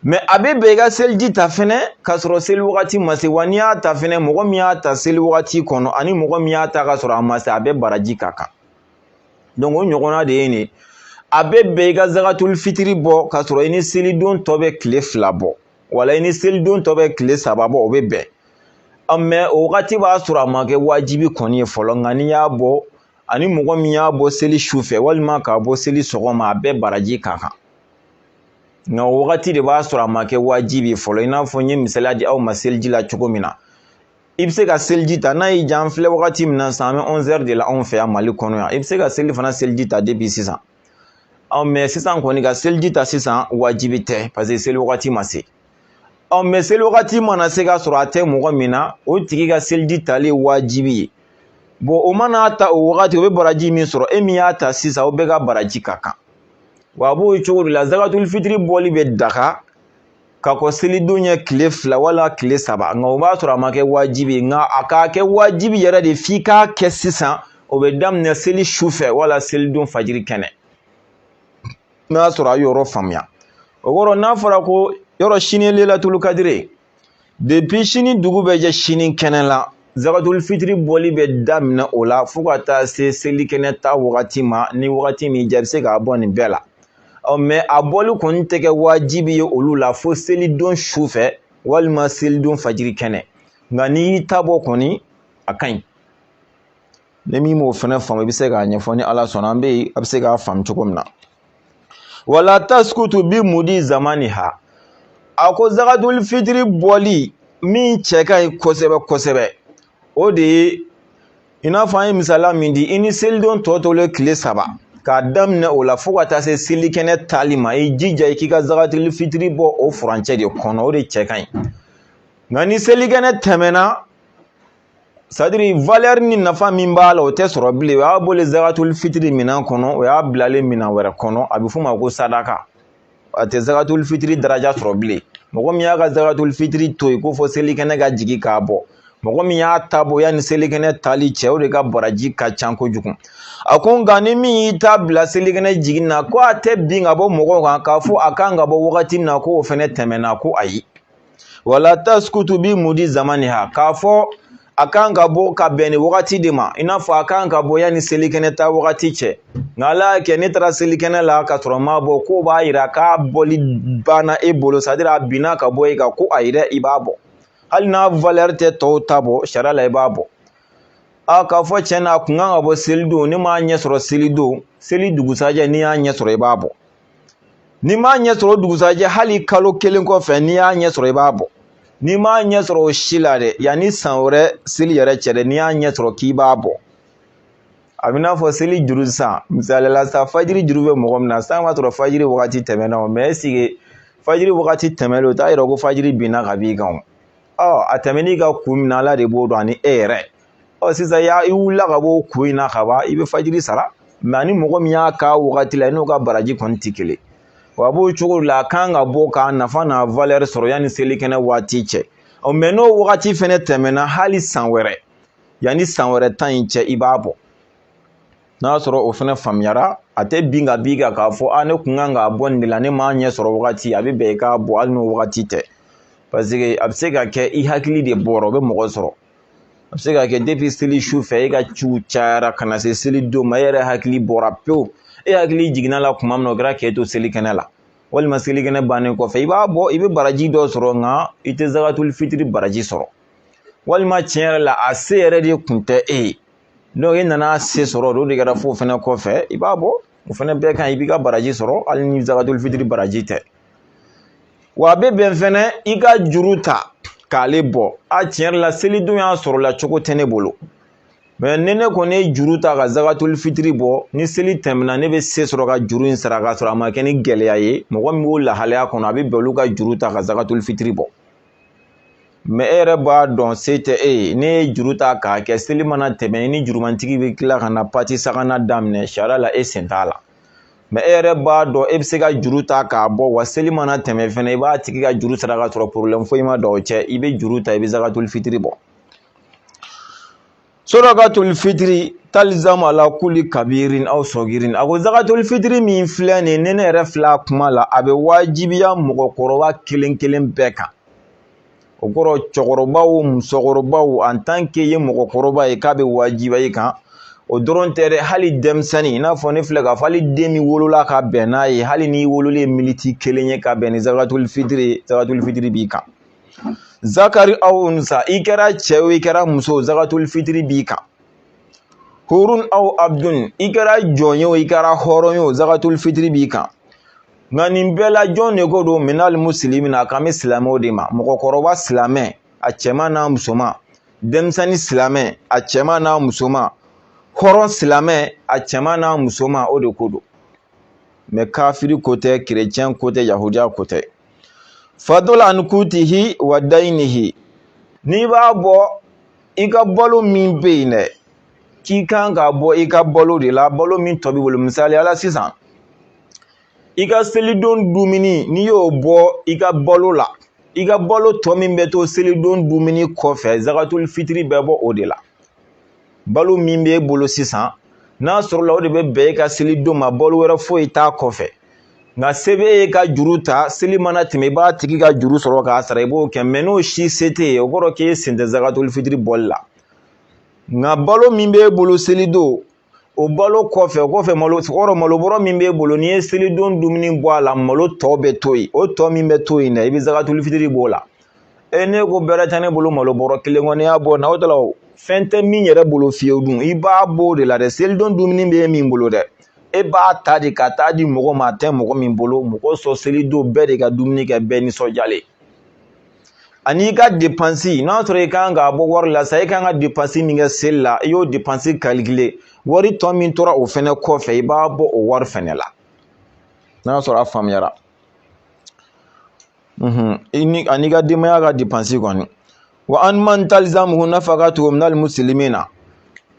mɛ a bɛ bɛn i ka seliji ta fɛnɛ k'a sɔrɔ seli wagati ma se wa n'i y'a ta fɛnɛ mɔgɔ min y'a ta seli wagati kɔnɔ ani mɔgɔ min y'a ta k'a sɔrɔ a ma se a bɛɛ baraji ka kan o ɲɔgɔnna de ye nin ye a bɛ bɛn i ka zagatuli fitiri bɔ k'a sɔrɔ i ni selidon tɔ bɛ tile fila bɔ wala i ni selidon tɔ bɛ tile saba bɔ o bɛ bɛn mɛ o wagati b'a sɔrɔ a ma kɛ wajibi kɔni ye fɔlɔ nka n'i y'a bɔ ani mɔgɔ min y'a bɔ seli su fɛ walima k'a bɔ seli sɔgɔma a bɛɛ baraji ka kan nka o wagati de b'a sɔrɔ a ma kɛ wajibi ye fɔlɔ i n'a fɔ n ye misaliya di aw ma seliji la cogo min na i bɛ se ka seliji ta n'a y'i diya an filɛ wagati min na sisan an bɛ ɔnzɛri de la anw fɛ yan mali kɔnɔ yan i bɛ se ka selifana seliji ta depi sisan ɔ mɛ sisan kɔni ka seliji ta sisan wajibi tɛ paseke seli wagati ma se ɔ mɛ seli wagati mana se ka sɔrɔ a tɛ mɔgɔ min na o tigi ka seliji tali ye wajibi ye bɔn o mana ta o wagati o bɛ baraji min sɔrɔ e min y'a ta sisan o bɛɛ ka baraji ka kan wa a b'o cogo de la zakatul fitiri bɔli bɛ daga ka kɔn selidon ɲɛ tile fila wala tile saba nka o b'a sɔrɔ a ma kɛ wajibi ye nka a k'a kɛ wajibi yɛrɛ de f'i k'a kɛ sisan o bɛ daminɛ seli su fɛ wala selidon fajiri kɛnɛ n'a sɔrɔ a yɔrɔ faamuya o kɔrɔ n'a fɔra ko yɔrɔ sini ye lelatulu kadiri ye depi sini dugu bɛ jɛ sini kɛnɛ la zakatul fitiri bɔli bɛ daminɛ o la fo ka taa se selikɛnɛ ta wagati ma ni wagati min jɛ bɛ se k'a bɔ nin bɛɛ la ɔ mɛ a bɔli kɔni tɛ kɛ wajibi ye olu la fo selidon su fɛ walima selidon fajiri kɛnɛ nka n'i y'i ta bɔ kɔni a ka ɲi ni min m'o fana faamu i bɛ se k'a ɲɛfɔ ni ala sɔnna an bɛ yen a bɛ se k'a faamu cogo min na wala taskutu bi mudi zamaniha a ko zakatuli fitiri bɔli min cɛ ka ɲi kosɛbɛ kosɛbɛ o de ye i n'a fɔ an ye misaliya min di i ni selidon tɔ tolen tile saba k'a daminɛ o la fo ka taa se selikɛnɛ tali ma i jija i k'i ka zakatuli fitiri bɔ o furancɛ de kɔnɔ o de cɛ ka ɲi nka ni selikɛnɛ tɛmɛna sadiri valɛri ni nafa min b'a la o tɛ sɔrɔ bilen o y'a bɔlen zakatuli fitiri minɛn kɔnɔ o y'a bilalen minɛn wɛrɛ kɔnɔ a bɛ f'o ma ko sadaka a tɛ zakatuli fitiri daraja sɔrɔ bilen mɔgɔ min y'a ka zakatuli fitiri to yen ko fo selikɛnɛ ka jigin k'a bɔ mɔgɔ min y'a ta bɔ yanni selikɛnɛ tali cɛ o de ka baraji ka ca kojugu a ko nka ni min y'i ta bila selikɛnɛ jiginna ko a tɛ bin ka bɔ mɔgɔw kan k'a fɔ a kan ka bɔ wagati min na ko o fɛnɛ tɛmɛna ko ayi wala taskutu bi mudi zamaniha k'a fɔ a kan ka bɔ ka bɛn ni wagati de ma i n'a fɔ a kan ka bɔ yanni selikɛnɛ ta wagati cɛ nka ala y'a kɛ ne taara selikɛnɛ la ka sɔrɔ n m'a bɔ k'o b'a yira k'a bɔli banna e bolo sadiri a binna ka bɔ e kan ko ayi dɛ i b'a bɔ hali n'a valɛri tɛ tɔw ta bɔ sariya la i b'a bɔ k'a fɔ tiɲɛ na a kun kan ka bɔ selidon ne m'a ɲɛ sɔrɔ selidon seli dugusajɛ n'i y'a ɲɛ sɔrɔ i b'a bɔ n'i m'a ɲɛ sɔrɔ o dugusajɛ hali kalo kelen kɔfɛ n'i y'a ɲɛ sɔrɔ i b'a bɔ n'i m'a ɲɛ sɔrɔ o si la dɛ yanni san wɛrɛ seli yɛrɛ cɛ dɛ n'i y'a ɲɛ sɔrɔ k'i b'a bɔ a b'i n'a fɔ seli juru san misali la sa fajiri juru bɛ mɔgɔ min na san b'a sɔrɔ fajiri wagati tɛmɛna o mɛ ɛsike fajiri wagati tɛmɛlen o t'a yira ko fajiri binna ka b'i kan o ɔ a tɛmɛn'i kan kun min na ala de b'o dɔn ani e yɛrɛ ɔ sisan ya i wulila ka bɔ kun in na ka ban i bɛ fajiri sara mɛ ani mɔgɔ min y'a k'a wagati la i n'o ka baraji kɔni tɛ kelen wa a b'o cogo la a kan ka bɔ k'a nafa n'a valɛri sɔrɔ yanni selikɛnɛ waati cɛ ɔ mɛ n'o wagati fɛnɛ tɛmɛna hali san wɛrɛ yanni san wɛrɛ ta in cɛ i b'a bɔ n'a y'a sɔrɔ o fana faamuyara a tɛ bin ka b'i kan k'a fɔ a ne kun kan k'a bɔ nin de la ne m'a ɲɛ sɔrɔ wagati a bɛ bɛn i k'a bɔ hali n'o wagati tɛ paseke a bɛ se ka kɛ i hakili de bɔra o bɛ mɔgɔ sɔrɔ a bɛ se ka kɛ depi seli su fɛ e ka ciw cayara ka na se seli don ma e yɛrɛ hakili bɔra pewu e hakili jiginna la kuma min na o kɛra k'e to seli kɛnɛ la walima selikɛnɛ bannen kɔfɛ i b'a bɔ i bɛ baraji dɔ sɔrɔ nka i tɛ zakatuli fitiri baraji sɔrɔ walima tiɲɛ yɛrɛ la a se yɛrɛ de kun tɛ e ye e nana se sɔrɔ o de kɛra fo fɛnɛ kɔfɛ i b'a bɔ o fɛnɛ bɛɛ kan i b'i ka baraji sɔrɔ hali ni zakatul fitiri baraji tɛ wa a bɛ bɛn fɛnɛ i ka juru ta k'ale bɔ a tiɲɛ yɛrɛ la selidon y'a sɔrɔ la cogo tɛ ne bolo mɛ ni ne kɔni ye juru ta ka zakatul fitiri bɔ ni seli tɛmɛna ne bɛ se sɔrɔ ka juru in sara k'a sɔrɔ a ma kɛ ni gɛlɛya ye mɔgɔ min b'o lahalaya kɔnɔ a bɛ bɛn olu ka juru ta ka zakatul fitiri bɔ mɛ e yɛrɛ b'a dɔn se tɛ e ye n'i ye juru ta k'a kɛ seli mana tɛmɛ i ni jurumantigi bɛ tila ka na pati sakana daminɛ sariya la e sen t'a la mɛ e yɛrɛ b'a dɔn e bɛ se ka juru ta k'a bɔ wa seli mana tɛmɛ fɛnɛ i b'a tigi ka juru sara ka sɔrɔ porobilɛmu foyi ma don aw cɛ i bɛ juru ta i bɛ zakatuli fitiri bɔ sadakatul fitiri talizamu ala kuli kabirin aw sɔgirin a ko zakatuli fitiri min filɛ nin ni ne yɛrɛ filɛ a kuma la a bɛ wajibiya mɔgɔkɔrɔba kelen kelen bɛɛ kan o kɔrɔ cɛkɔrɔba musokɔrɔba an tan k'i ye mɔgɔkɔrɔba ye k'a bɛ wajibiya i kan o dɔrɔn tɛ dɛ hali denmisɛnnin i n'a fɔ ne filɛ k'a fɔ hali den min wolola ka bɛn n'a ye hali n'i wololen miniti kelen ye ka bɛn ni zakatuli fitiri zakatuli fitiri b'i kan zakari aw unsa i kɛra cɛ o i kɛra muso zakatuli fitiri b'i kan hurun aw abdun i kɛra jɔn ye o i kɛra hɔrɔn ye o zakatuli fitiri b'i kan nka nin bɛɛ la jɔn de ko don minali musilimina a kan bɛ silamɛw de ma mɔgɔkɔrɔba silamɛ a cɛman n'a musoman denmisɛnnin silamɛ a cɛman n'a musoman hɔrɔn silamɛ a cɛman n'a musoman o de ko don mɛ kafiri ko tɛ kerecɛn ko tɛ yahudiya ko tɛ fadula an kutihi wa dayinihi n'i b'a bɔ i ka balo min bɛ yen dɛ k'i kan k'a bɔ i ka balo de la balo min tɔ b'i bolo misaliya la sisan i ka selidon dumuni n'i y'o bɔ i ka balo la i ka balo tɔ min bɛ to selidon dumuni kɔfɛ zakatuli fitiri bɛ bɔ o de la balo min b'e bolo sisan n'a sɔrɔla o de bɛ bɛn e ka seli don ma balo wɛrɛ foyi t'a kɔfɛ nka se b'e ye ka juru ta seli mana tɛmɛ i b'a tigi ka juru sɔrɔ k'a sara i b'o kɛ mɛ n'o si se t'e ye o kɔrɔ k'e sen tɛ zakatuli fitiri bɔli la nka balo min b'e bolo seli don o balo kɔfɛ o kɔfɛ malo kɔrɔ malo bɔrɔ min b'e bolo n'i ye selidon dumuni bɔ a la malo tɔ bɛ to yen o tɔ min bɛ to yen dɛ i bɛ zakatuli fitiri b'o la e ne ko bɛrɛ tɛ ne bolo malo bɔrɔ kelen kɔni y'a bɔ na o ta la fɛn tɛ min yɛrɛ bolo fiyewu dun i b'a bɔ o de la dɛ selidon dumuni bɛ e min bolo dɛ e b'a ta de ka taa di mɔgɔ ma a tɛ mɔgɔ min bolo mɔgɔ sɔn selidon bɛɛ de ka dumuni kɛ bɛɛ nisɔndiyalen ani i ka depansi n'a sɔrɔ i kan k'a bɔ wari la sa i kan ka depansi min kɛ seli la i y'o depansi kalikile wari tɔ min tora o fɛnɛ kɔfɛ i b'a bɔ o wari fɛnɛ la n'a sɔrɔ a faamuyara i ni an'i ka denbaya ka depansi kɔni wa an man talzamuhu nafakatuhu minal muslimina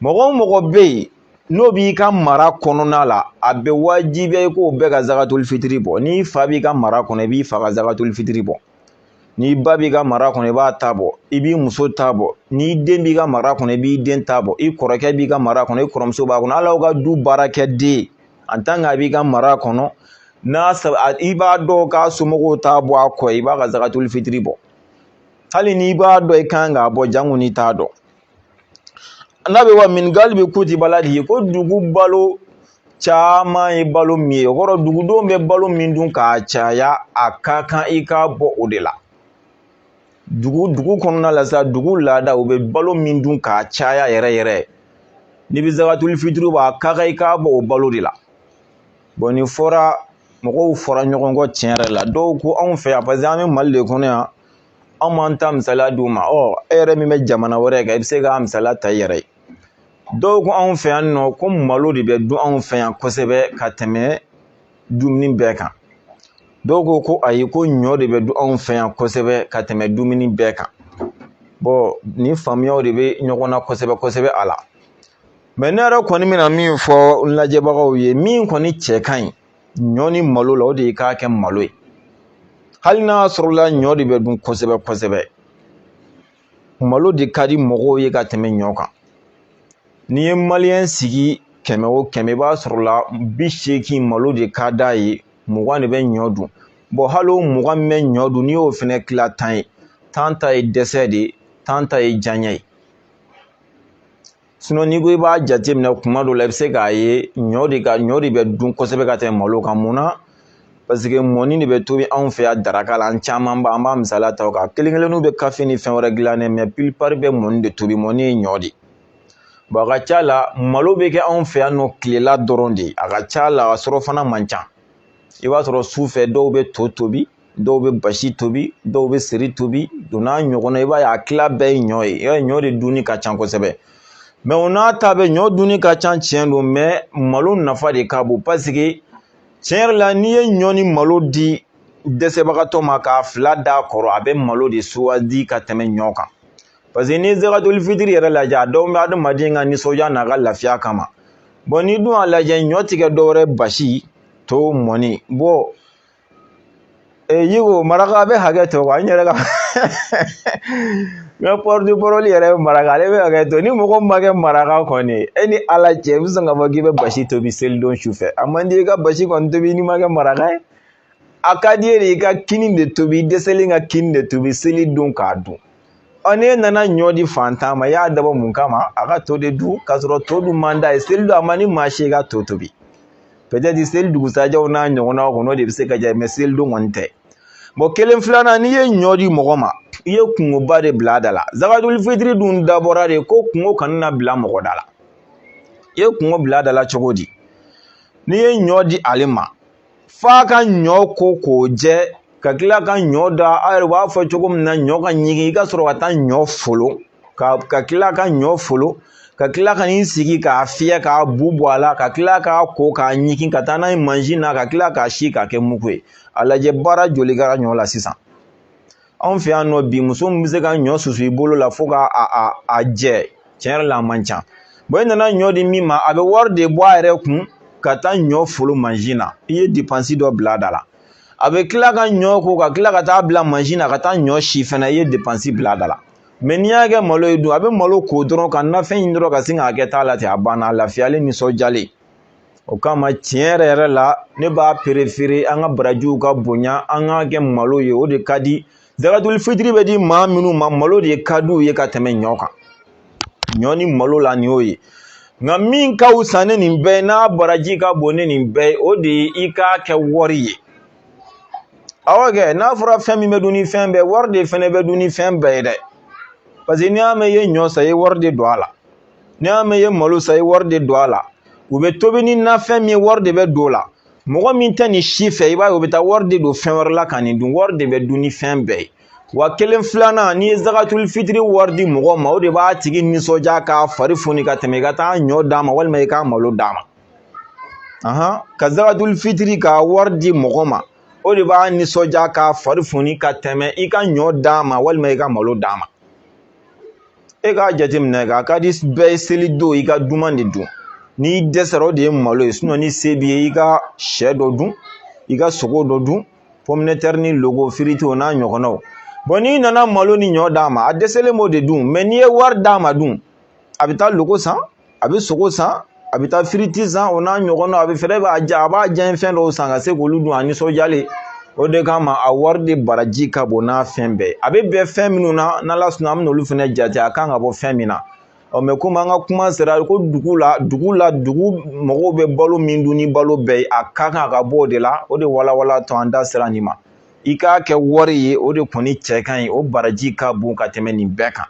mɔgɔ o mɔgɔ bɛ yen n'o b'i ka mara kɔnɔna la a bɛ wajibiya i k'o bɛɛ ka zakatuli fitiri bɔ n'i fa b'i ka mara kɔnɔ i b'i fa ka zakatuli fitiri bɔ n'i ba b'i ka mara kɔnɔ i b'a ta bɔ i b'i muso ta bɔ n'i den b'i ka mara kɔnɔ i b'i den ta bɔ i kɔrɔkɛ b'i ka mara kɔnɔ i kɔrɔmuso b'a kɔnɔ hali aw ka du baarakɛden an tan k'a b'i ka mara kɔnɔ n'i b'a dɔn k'a somɔgɔw t'a bɔ a kɔ i b'a ka zakatuli fitiri bɔ hali n'i b'a dɔn i kan k'a bɔ janko n'i t'a dɔn n'a bɛ wa min galibi kuti baladihi ko dugu balo caman ye balo min ye o kɔrɔ dugudenw bɛ balo min dun k'a caya a ka kan i k'a bɔ o de la dugu dugu kɔnɔna la sa dugu laada u bɛ balo min dun k'a caya yɛrɛ yɛrɛ n'i bɛ zakatuli fitiri bɔ a ka kan i k'a bɔ o balo de la bɔn nin fɔra mɔgɔw fɔra ɲɔgɔn kɔ tiɲɛ yɛrɛ la dɔw ko anw fɛ yan paseke an bɛ mali de kɔnɔ yan anw b'an ta misaliya d'u ma ɔ e yɛrɛ min bɛ jamana wɛrɛ kan i bɛ se k'a misaliya ta i yɛrɛ ye dɔw ko anw fɛ yan nɔ ko malo de bɛ dun anw fɛ yan kosɛbɛ ka tɛmɛ dumuni bɛɛ kan dɔw ko ko ayi ko ɲɔ de bɛ dun anw fɛ yan kosɛbɛ ka tɛmɛ dumuni bɛɛ kan bɔn nin faamuyaw de bɛ ɲɔgɔn na kosɛbɛ kosɛbɛ a la mɛ ne yɛrɛ kɔni bɛna min fɔ n lajɛbagaw ye min kɔni cɛ ka ɲi ɲɔ ni malo la o de ye k'a kɛ malo ye hali n'a sɔrɔla ɲɔ de bɛ dun kosɛbɛ kosɛbɛ malo de ka di mɔgɔw ye ka tɛmɛ ɲɔ kan n'i ye maliyɛn sigi kɛmɛ o kɛmɛ i b'a sɔrɔ la bi seegin malo de ka d'a ye mugan de bɛ ɲɔ dun bɔn hali o mugan min bɛ ɲɔ dun n'i y'o fɛnɛ tila tan ye tan ta ye dɛsɛ de ye tan ta ye diyaɲɛ ye n'i ko i b'a jateminɛ kuma dɔ la i bɛ se k'a ye ɲɔ de ka ɲɔ de bɛ dun kosɛbɛ ka tɛmɛ malo kan mun na paseke mɔni de bɛ tobi anw fɛ yan daraka la an camanba an b'a misaliya ta o kan kelen kelenninw bɛ kafe ni fɛn wɛrɛ dilan dɛ mɛ pilipari bɛ mɔni de tobi mɔni ye ɲɔ de ye bɔn a ka ca la malo bɛ kɛ anw fɛ yan nɔ tilela dɔrɔn de a ka ca la a surɔfana man ca i b'a sɔrɔ su fɛ dɔw bɛ to tobi dɔw bɛ basi tobi dɔw bɛ seri tobi don n'a ɲɔgɔnna i b'a ye a tila bɛɛ ye ɲɔ ye i b'a ye ɲɔ de dunni ka ca kosɛbɛ mɛ o n'a ta bɛɛ ɲɔ dunni ka ca tiɲɛ don mɛ malo nafa de ka bon paseke tiɲɛ yɛrɛ la n'i ye ɲɔ ni malo di dɛsɛbagatɔ ma k'a fila d'a kɔrɔ a bɛ malo de sugandi ka tɛmɛ ɲɔ kan paseke n'i ye zagatuli fitiri yɛrɛ lajɛ a dabɔra adamaden ka nisɔndiya n'a ka lafiya kama bɔn n'i dun y'a lajɛ ɲɔ tɛ kɛ dɔwɛrɛ basi to mɔni bɔ ee i ko maraka bɛ hakɛ to wa n yɛrɛ ka n ka pɔrɔti parɔli yɛrɛ ye maraka ale bɛ hakɛ to ni mɔgɔ ma kɛ maraka kɔni e ni ala cɛ i bɛ sɔn k'a fɔ k'i bɛ basi tobi selidon su fɛ a man di i ka basi kɔni tobi n'i ma kɛ maraka ye a ka di yɛrɛ i ka kini de tobi i dɛsɛlen ka kini de tobi seli don k'a dun n'e nana ɲɔ di fantan ma i y'a dabɔ mun kama a ka to de dun k'a sɔrɔ to dun man d'a ye seli don a man ni maa si ka to tobi peut-être seli dugusajɛw n'a ɲɔgɔnnaw kɔnɔ o de bɛ se ka diya mɛ seli don kɔni tɛ bɔn kelen filanan n'i ye ɲɔ di mɔgɔ ma i ye kungoba de bila a da la zakaduli fitiri dun dabɔra de ko kungo kana na bila mɔgɔ da la i ye kungo bila a da la cogo di n'i ye ɲɔ di ale ma f'a ka ɲɔ ko k'o jɛ ka kila ka ɲɔ da aw yɛrɛ b'a fɔ cogo min na ɲɔ ka ɲigin i ka sɔrɔ ka taa ɲɔ folon ka kila ka ɲɔ folon ka kila ka n'i sigi k'a fiyɛ k'a bu bɔ a la ka kila k'a ko k'a ɲigin ka taa n'a ye mansin na ka kila k'a si k'a kɛ mugu ye a lajɛ baara joli kɛra ɲɔ la sisan anw fɛ yan nɔ bi muso min bɛ se ka ɲɔ susu i bolo la fo ka a a a jɛ tiɲɛ yɛrɛ la a man ca bɔn i nana ɲɔ di min ma a bɛ wari de bɔ a yɛrɛ kun ka taa ɲɔ folo mansin na i ye depansi dɔ bila a da la a bɛ kila ka ɲɔ ko ka kila ka taa bila mansin na ka taa ɲɔ si fana i ye depansi bila a da la mɛ n'i y'a kɛ malo ye dun a bɛ malo ko dɔrɔn ka nafɛn ɲini dɔrɔn ka sin k'a kɛ ta la ten a banna a lafiyalen nisɔndiyalen o kama tiɲɛ yɛrɛ yɛrɛ la ne b'a perefere an ka barajiw ka bonya an k'a kɛ malo ye o de ka di zagatuli fitiri bɛ di maa minnu ma malo de ka di u ye ka tɛmɛ ɲɔ kan ɲɔ ni malo la nin y'o ye nka min ka wusa ni nin bɛɛ n'a baraji ka bon ni nin bɛɛ o de ye i k'a kɛ wari ye awɔ kɛ n'a fɔra fɛn min bɛ dun ni fɛn bɛɛ wari de fɛnɛ bɛ dun ni fɛn bɛɛ ye dɛ paseke n'i y'a mɛn i ye ɲɔ san i ye wari de don a la n'i y'a mɛn i ye malo san i ye wari de don a la u bɛ tobi ni nafɛn min ye wari de bɛ don o la mɔgɔ min tɛ nin si fɛ i b'a ye o bɛ taa wari de don fɛn wɛrɛ la ka nin dun wari de bɛ dun ni fɛn bɛɛ ye wa kelen filanan n'i ye zagatuli fitiri wari di mɔgɔ ma o de b'a tigi nisɔndiya k'a fari foni ka tɛmɛ i ka taa ɲɔ d'a ma walima i ka malo d'a ma ahan ka zagatuli fitiri ka wari di mɔgɔ ma o de b'a nisɔndiya k'a fari foni ka tɛmɛ i ka ɲɔ d'a ma walima i ka malo d'a ma e k'a jateminɛ k'a ka di bɛɛ ye seli don i ka duman de dun n'i dɛsɛra o de ye malo ye sinɔn ni se b'i ye i ka sɛ dɔ dun i ka sogo dɔ dun pɔmitɛri ni loko firiti o n'a ɲɔgɔnnaw bɔn n'i nana malo ni ɲɔ d'a ma a dɛsɛlen b'o de dun mɛ n'i ye wari d'a ma dun a bɛ taa loko san a bɛ sogo san a bɛ taa firiti san o n'a ɲɔgɔnnaw a bɛ fɛrɛ a b'a diyanye fɛn dɔw san ka se k'olu dun a nisɔndiyalen o de kama a wari de baraji ka bon n'a fɛn bɛɛ ye a bɛ bɛn fɛn minnu na n'ala sɔnna an bɛ n'olu fɛnɛ jate a kan ka bɔ fɛn min na ɔ mɛ komi an ka kuma sera ko dugu la dugu la dugu mɔgɔw bɛ balo min dun ni balo bɛɛ ye a ka kan a ka bɔ o de la o de walawalatɔ an da sera nin ma i k'a kɛ wari ye o de kɔni cɛ ka ɲi o baraji ka bon ka tɛmɛ nin bɛɛ kan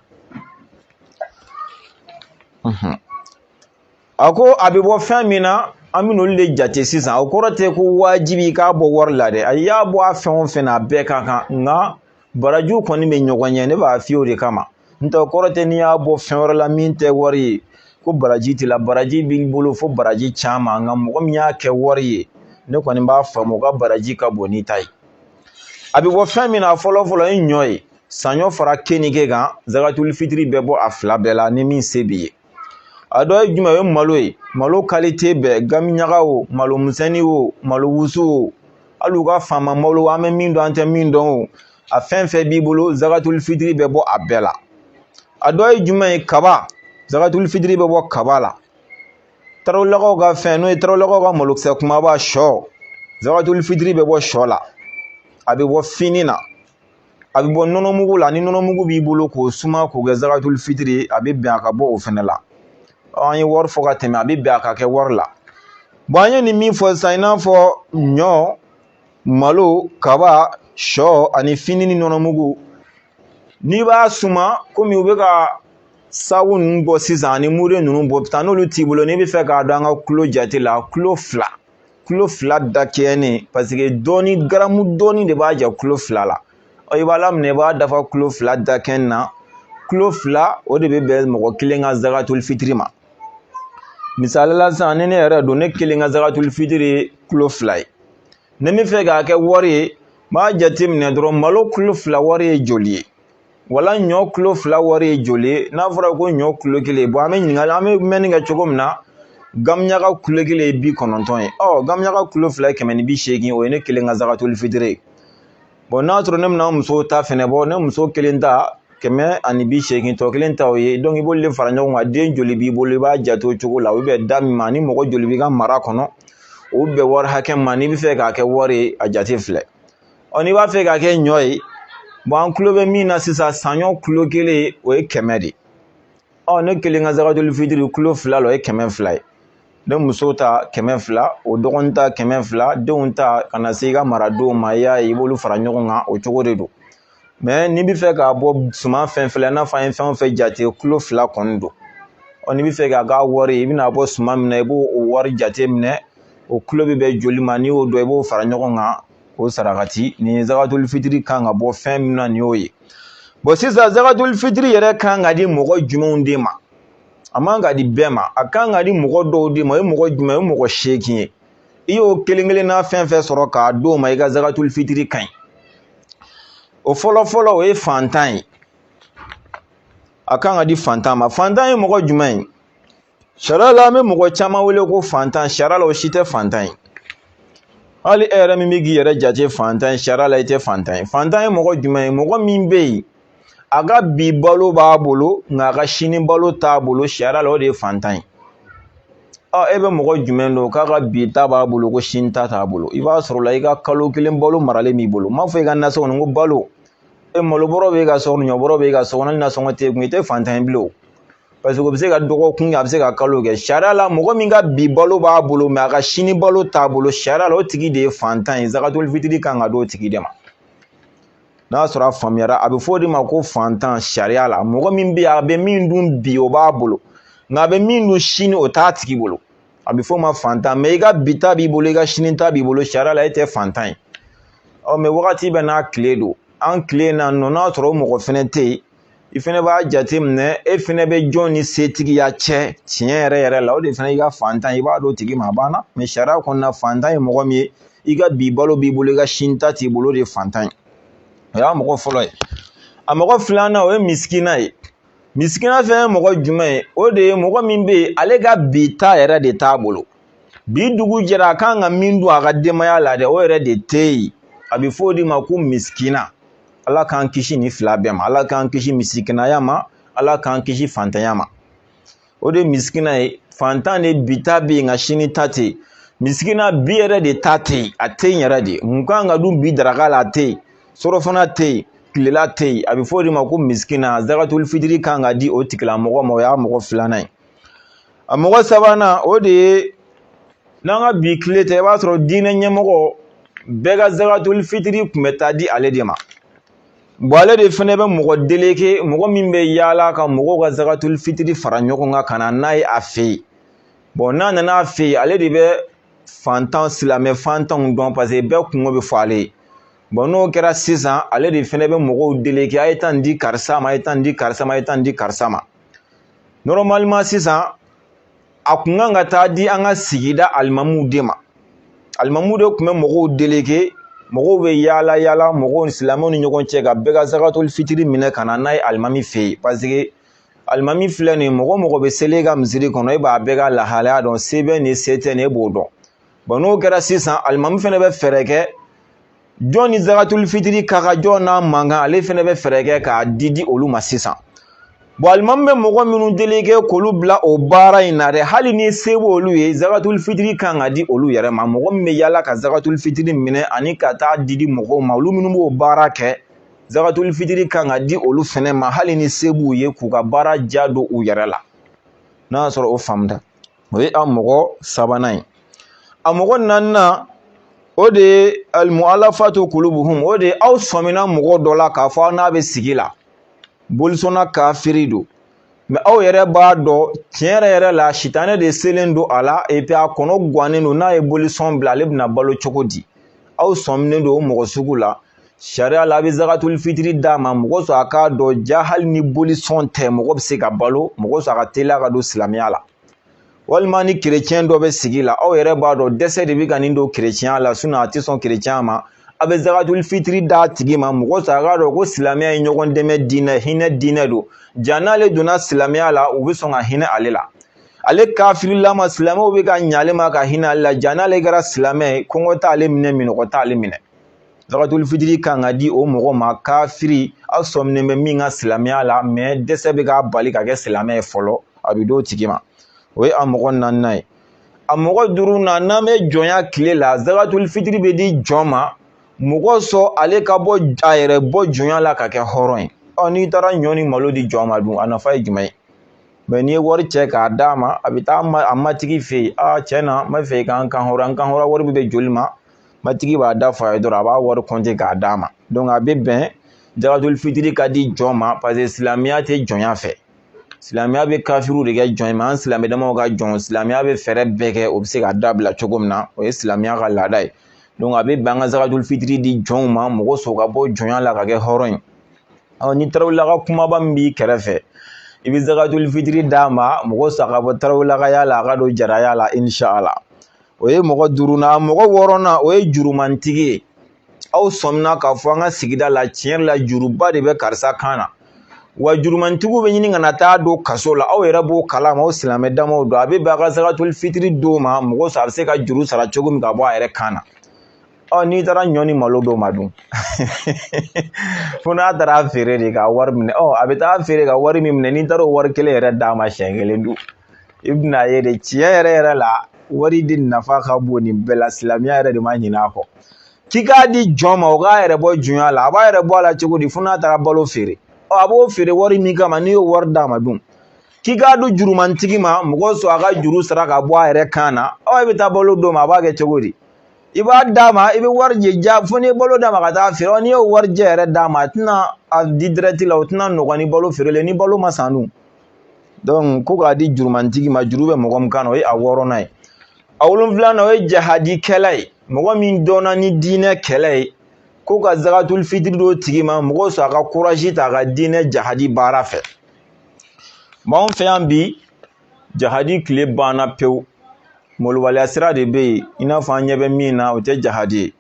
a ko a bɛ bɔ fɛn min na an bɛ n'olu de jate sisan o kɔrɔ tɛ ko wajibi i k'a bɔ wari la dɛ a y'a bɔ a fɛn o fɛn na a bɛɛ ka kan nka barajiw kɔni bɛ ɲɔgɔn ɲɛ ne b'a f'i ye o de kama n tɛ o kɔrɔ tɛ n'i y'a bɔ fɛn wɛrɛ la min tɛ wari ye ko baraji t'i la baraji b'i bolo fo baraji caman nka mɔgɔ min y'a kɛ wari ye ne kɔni b'a faamu o ka baraji ka bon n'i ta ye a bɛ bɔ fɛn min na fɔlɔ fɔlɔ ye ɲɔ ye saɲɔ fara kenige kan zagatuli fitiri bɛ bɔ a fila bɛɛ la ni min se b'i ye a dɔ ye jumɛn o ye malo ye malo kalite bɛɛ gamiyaga o malo misɛnnin o malo wusu o hali u ka faama malo an bɛ min dɔn an tɛ min dɔn o a fɛn fɛn b'i bolo zagatuli fitiri bɛ bɔ a bɛɛ la a dɔ ye jumɛn ye kaba zagatuli fitiri bɛ bɔ kaba la tarawelelakaw ka fɛn n'o ye tarawelelakaw ka malokisɛ kumaba sɔ zagatuli fitiri bɛ bɔ sɔ la a bɛ bɔ fini na a bɛ bɔ nɔnɔmugu la ni nɔnɔmugu b'i bolo k'o suma k'o kɛ zagatuli fitiri ye a bɛ bɛn a ka bɔ o fɛnɛ la an ye wari fɔ ka tɛmɛ a bɛ bɛn a ka kɛ wari la an ye nin min fɔ sisan i n'a fɔ ɲɔ malo kaba sɔ ani fini ni nɔnɔmugu n'i b'a suma komi u bɛ ka sabu ninnu bɔ sisan ani mure ninnu bɔ taa n'olu t'i bolo n'i bɛ fɛ k'a dɔn an ka kulo jate la kulo fila kulo fila dakɛɲɛnen paseke dɔɔni garamu dɔɔni de b'a jɛ kulo fila la ɔ i b'a laminɛ i b'a dafa kulo fila dakɛɲɛ na kulo fila o de bɛ bɛn mɔgɔ kelen ka zakatul fitiri ma misali la sisan ni ne yɛrɛ don ne kelen ka zakatul fitiri ye kulo fila ye ni n bɛ fɛ k'a kɛ wari ye n b'a jateminɛ dɔrɔn malo kulo fila wari ye joli ye wala ɲɔ kulo fila wari ye joli ye n'a fɔra ko ɲɔ kulo kelen bɔn an bɛ ɲininkali an bɛ mɛnni kɛ cogo min na gamiyaga kulo kelen ye bi kɔnɔntɔn ye ɔ gamiyaga kulo fila ye kɛmɛ ni bi seegin o ye ne kelen ka zagatuli fitiri ye bɔn n'a sɔrɔ ne bɛna muso ta fɛnɛ bɔ ne muso kelen ta kɛmɛ ani bi seegin tɔ kelen ta o ye dɔnku i b'olu de fara ɲɔgɔn kan den joli b'i bolo i b'a jate o cogo la o bɛ da min ma ni mɔgɔ joli b'i ka mara kɔnɔ o bɛ wari hakɛ ma n'i bɛ fɛ k'a kɛ wari ye a jate filɛ ɔ n'i b'a fɛ k'a kɛ ɲɔ ye bon an kulo bɛ min na sisan saɲɔ kulo kelen o ye kɛmɛ de ɔ ne kelen ka zakatul fitiri kulo fila la o ye kɛmɛ fila ye ne muso ta kɛmɛ fila o dɔgɔnin ta kɛmɛ fila denw ta ka na se i ka maradenw ma i y'a ye i b'olu fara ɲɔgɔn kan o cogo de don n'i bɛ fɛ k'a bɔ suman fɛn fɛn la i n'a fɔ an ye fɛn o fɛn jate kulo fila kɔni don ɔ n'i bɛ fɛ k'a kɛ wari ye i bɛna bɔ suman min na i b'o o wari jate minɛ o kulo bɛ bɛn joli ma n'i y'o dɔn i b'o fara ɲɔgɔn kan k'o sarakati nin zakatul fitiri kan ka bɔ fɛn min na nin y'o ye bon sisan zakatul fitiri yɛrɛ kan ka di mɔgɔ jumɛnw de ma a man ka di bɛɛ ma a kan ka di mɔgɔ dɔw de ma o ye mɔgɔ jumɛn o ye mɔgɔ seegin ye i y'o kelen kelen na fɛn fɛn sɔrɔ k'a d'o ma i ka zakatul fitiri ka ɲi o fɔlɔ fɔlɔ o ye fantan ye a kan ka di fantan ma fantan ye mɔgɔ jumɛn ye sariya la an bɛ mɔgɔ caman wele ko fantan sariya la o si tɛ fantan ye hali e yɛrɛ min bɛ k'i yɛrɛ jate fantan ye sariya la i tɛ fantan ye fantan ye mɔgɔ jumɛn ye mɔgɔ min bɛ yen a ka bi balo b'a bolo nka a ka sini balo t'a bolo sariya la o de ye fantan ye ɔ e bɛ mɔgɔ jumɛn dɔn k'a ka bi ta b'a bolo ko sini ta t'a bolo i b'a sɔrɔ la i ka kalo kelen balo maralen b'i bolo n m'a fɔ i ka nasɔngɔ nin ko balo e malo bɔrɔ b'e ka so kɔnɔ ɲɔ bɔrɔ b'e ka so kɔnɔ hali nasɔngɔ t'e kun i tɛ fantan ye bilen o parce que o bɛ se ka dɔgɔkun kɛ a bɛ se ka kalo kɛ sariya la mɔgɔ min ka bi balo b'a bolo mais a ka sini balo t'a bolo sariya la o tigi de ye fantan ye zakatul fitiri kan ka d'o tigi de ma n'a sɔrɔ a faamuyara a bɛ fɔ o de ma ko fantan sariya la mɔgɔ min bɛ yen a bɛ min dun bi o b'a bolo nka a bɛ min dun sini o t'a tigi bolo a bɛ fɔ o ma fantan mais i ka bi ta b'i bolo i ka sini ta b'i bolo sariya la e tɛ fantan ye ɔ mais wagati bɛɛ n'a tile don an tile na nɔ n'a sɔrɔ o mɔgɔ fɛnɛ tɛ yen i fɛnɛ b'a jateminɛ e fɛnɛ bɛ jɔn ni setigiya cɛ tiɲɛ yɛrɛ yɛrɛ la o de fana i ka fantan i b'a d'o tigi ma a banna mais sariya kɔnɔna fantan ye mɔgɔ min ye i ka bi balo b'i bolo i ka sini ta t'i bolo o de ye fantan ye o y'a mɔgɔ fɔlɔ ye a mɔgɔ filanan o ye misikina ye misikina fɛnɛ ye mɔgɔ jumɛn ye o de ye mɔgɔ min bɛ yen ale ka bi ta yɛrɛ de t'a bolo bi dugu jɛra a kan ka min dun a ka denbaya la dɛ o yɛrɛ de tɛ yen a bɛ fɔ o de ma ko misikina ala k'an kisi nin fila bɛɛ ma ala k'an kisi misikinaya ma ala k'an kisi fantanya ma o de ye misikina ye fantan de bi ta bɛ yen nka sini ta tɛ yen misikina bi yɛrɛ de ta tɛ yen a tɛ yen yɛrɛ de mun kan ka dun bi daraka la a tɛ yen surɔfana tɛ yen tilela tɛ yen a bɛ fɔ o de ma ko misikina zakatul fitiri kan ka di o tigilamɔgɔ ma o y'a mɔgɔ filanan ye a mɔgɔ sabanan o de ye n'an ka bi tile tɛ i b'a sɔrɔ diinɛ ɲɛmɔgɔ bɛɛ ka zakatuli fitiri tun bɛ taa di ale de ma bɔn ale de fɛnɛ bɛ mɔgɔ deleke mɔgɔ min bɛ yaala ka mɔgɔw ka zakatuli fitiri fara ɲɔgɔn kan ka na n'a ye a fɛ yen bɔn n'a nana a fɛ yen ale de bɛ fantan silamɛ fantanw dɔn paseke bɛɛ kungo bɛ fɔ ale ye bɔn n'o kɛra sisan ale de fɛnɛ bɛ mɔgɔw deleke a ye taa nin di karisa ma a ye taa nin di karisa ma a ye taa nin di karisa ma nɔrɔmalima sisan a kun kan ka taa di an ka sigida alimamuw de ma alimamuw de tun bɛ mɔgɔw deleke mɔgɔw bɛ yaala yaala mɔgɔw silamɛw ni ɲɔgɔn cɛ ka bɛɛ ka zakatoli fitiri minɛ ka na n'a ye alimami fɛ yen paseke alimami filɛ nin mɔgɔ o mɔgɔ bɛ seli i ka misiri kɔnɔ e b'a bɛɛ ka lahalaya dɔn se bɛ nin se tɛ nin e b'o dɔn bɔn n'o kɛra sisan alimami fɛnɛ bɛ fɛɛrɛ kɛ jɔn ni zakatuli fitiri ka kan jɔn n'a man kan ale fɛnɛ bɛ fɛɛrɛ kɛ k'a di di olu ma sisan bɔn alimami bɛ mɔgɔ minnu deleke k'olu bila o baara in na dɛ hali ni se b'olu ye zakatuli fitiri kan ka di olu yɛrɛ ma mɔgɔ min bɛ yaala ka zakatuli fitiri minɛ ani ka taa di di mɔgɔw ma olu minnu b'o baara kɛ zakatuli fitiri kan ka di olu fɛnɛ ma hali ni se b'u ye k'u ka baara ja don u yɛrɛ la n'a y'a sɔrɔ o faamuda o ye a mɔgɔ sabanan ye a mɔgɔ naaninan o de ye almualafatu kulubuhum o de ye aw sɔmina mɔgɔ dɔ la k'a fɔ aw n'a bɛ sigi la bolisɔnna kafiri don mɛ aw yɛrɛ b'a dɔn tiɲɛ yɛrɛ yɛrɛ la sitanɛ de selen don a la epi a kɔnɔ gannen don n'a ye bolisɔn bila ale bɛna balo cogo di aw sɔminen don o mɔgɔ sugu la sariya la a bɛ zakatul fitiri d'a ma mɔgɔ sɔrɔ a k'a dɔn jaa hali ni bolisɔn tɛ mɔgɔ bɛ se ka balo mɔgɔ sɔrɔ a ka teliya ka don silamɛya la walima ni kerecɛn dɔ bɛ sigi la aw yɛrɛ b'a dɔn dɛsɛ de bɛ ka nin don kerecɛnya la sinɔn a tɛ sɔn kerecɛnya ma a bɛ zakatul fitiri d'a tigi ma mɔgɔ sɔrɔ a k'a dɔn ko silamɛya ye ɲɔgɔn dɛmɛ diinɛ hinɛ diinɛ don jaa n'ale donna silamɛya la u bɛ sɔn ka hinɛ ale la ale kafirilama silamɛw bɛ ka ɲɛ ale ma ka hinɛ ale la jaa n'ale kɛra silamɛ ye kɔngɔ t'ale minɛ minnɔgɔ t'ale minɛ Zakatuli fitiri kan ka di o mɔgɔ ma kafiri aw sɔminen bɛ min ka silamɛya la mɛ dɛsɛ bɛ k'a bali ka kɛ silamɛ ye fɔlɔ a bɛ d'o tigi ma o ye a mɔgɔ naaninan ye a mɔgɔ duurunan n'an bɛ jɔnya tile la zakatuli fitiri bɛ di jɔn ma mɔgɔ sɔn ale ka bɔ a yɛrɛ bɔ jɔnya la ka kɛ hɔrɔn ye ɔ n'i taara ɲɔ ni malo di jɔn ma dun a nafa ye jumɛn ye mɛ n'i ye wari cɛ k'a d'a ma a bɛ taa a matigi fɛ yen a cɛ na n bɛ fɛ i ka n kan hɔrɔn n kan hɔrɔn wari bɛ joli ma matigi b'a da f'a ye dɔrɔn a b'a wari kɔnte k'a d'a ma donc a bɛ bɛn zakatul fitiri ka di jɔn ma parce que silamɛya tɛ jɔnya fɛ silamɛya bɛ kafiriw de kɛ jɔn ye an silamɛ damaw ka jɔn silamɛya bɛ fɛɛrɛ bɛɛ kɛ o bɛ se ka dabila cogo min na o ye silamɛya ka laada ye donc a bɛ bɛn an ka zakatul fitiri di jɔnw ma mɔgɔ sɔrɔ ka bɔ jɔnya la ka kɛ hɔrɔn ye ɔ ni tarawelelaka kumaba min b'i kɛrɛfɛ i bɛ zakatul fitiri d'a ma mɔgɔ sɔrɔ a ka bɔ tarawelelakaya la a ka don jaraya la inshala o ye mɔgɔ duurunan mɔgɔ wɔɔrɔnan o ye jurumantigi ye aw sɔmina k'a fɔ an ka sigida la tiɲɛ yɛrɛ la juruba de bɛ karisa kan na wa jurumantigiw bɛ ɲini ka na taa don kaso la aw yɛrɛ b'o kalama aw silamɛ damaw don a bɛ bɛn a ka zakatul fitiri d'o ma mɔgɔ sɔrɔ a bɛ se ka juru sara cogo min ka bɔ a yɛrɛ kan na ɔ n'i taara ɲɔ ni malo d'o ma dun fo n'a taara feere de ka wari minɛ ɔ a bɛ taa feere ka wari min minɛ n'i taara o wari kelen yɛrɛ d'a ma siɲɛ kelen dun i bɛna ye de tiɲɛ yɛrɛ yɛrɛ la wari di nafa ka bon nin bɛɛ la silamɛya yɛrɛ de ma ɲinɛ a kɔ k'i k'a di jɔn ma o k'a yɛrɛ bɔ jɔnya la a b'a yɛrɛ bɔ a la cogo di fo n'a taara balo feere ɔ a b'o feere wari min kama n'i y'o wari d'a ma dun k'i k'a di jurumantigi ma mɔgɔ sɔrɔ a ka juru sara ka bɔ a yɛrɛ kan na ɔ i bɛ taa balo d'o ma a b'a kɛ cogo di i b'a d'a ma i bɛ wari jɛ ja fo n'i ye balo d'a ma ka taa feere n'i y'o wari jɛ yɛrɛ d'a ma a tɛna a di dirɛti la o tɛna nɔgɔn ni balo feerelen ni balo ma san dun ko k'a di jurumantigi ma juru bɛ mɔgɔ min kan na o ye a wɔɔrɔnan ye a wolonfilanan o ye jahadikɛla ye mɔgɔ min dɔnna ni diinɛ kɛlɛ ye ko ka zakatul fitiri d'o tigi ma mɔgɔ sɔrɔ a ka kurazi ta a ka diinɛ jahadi baara fɛ mais anw fɛ yan bi jahadi tile banna pewu malobaliya sira de bɛ yen i n'a fɔ an ɲɛ bɛ min na o tɛ jahadi ye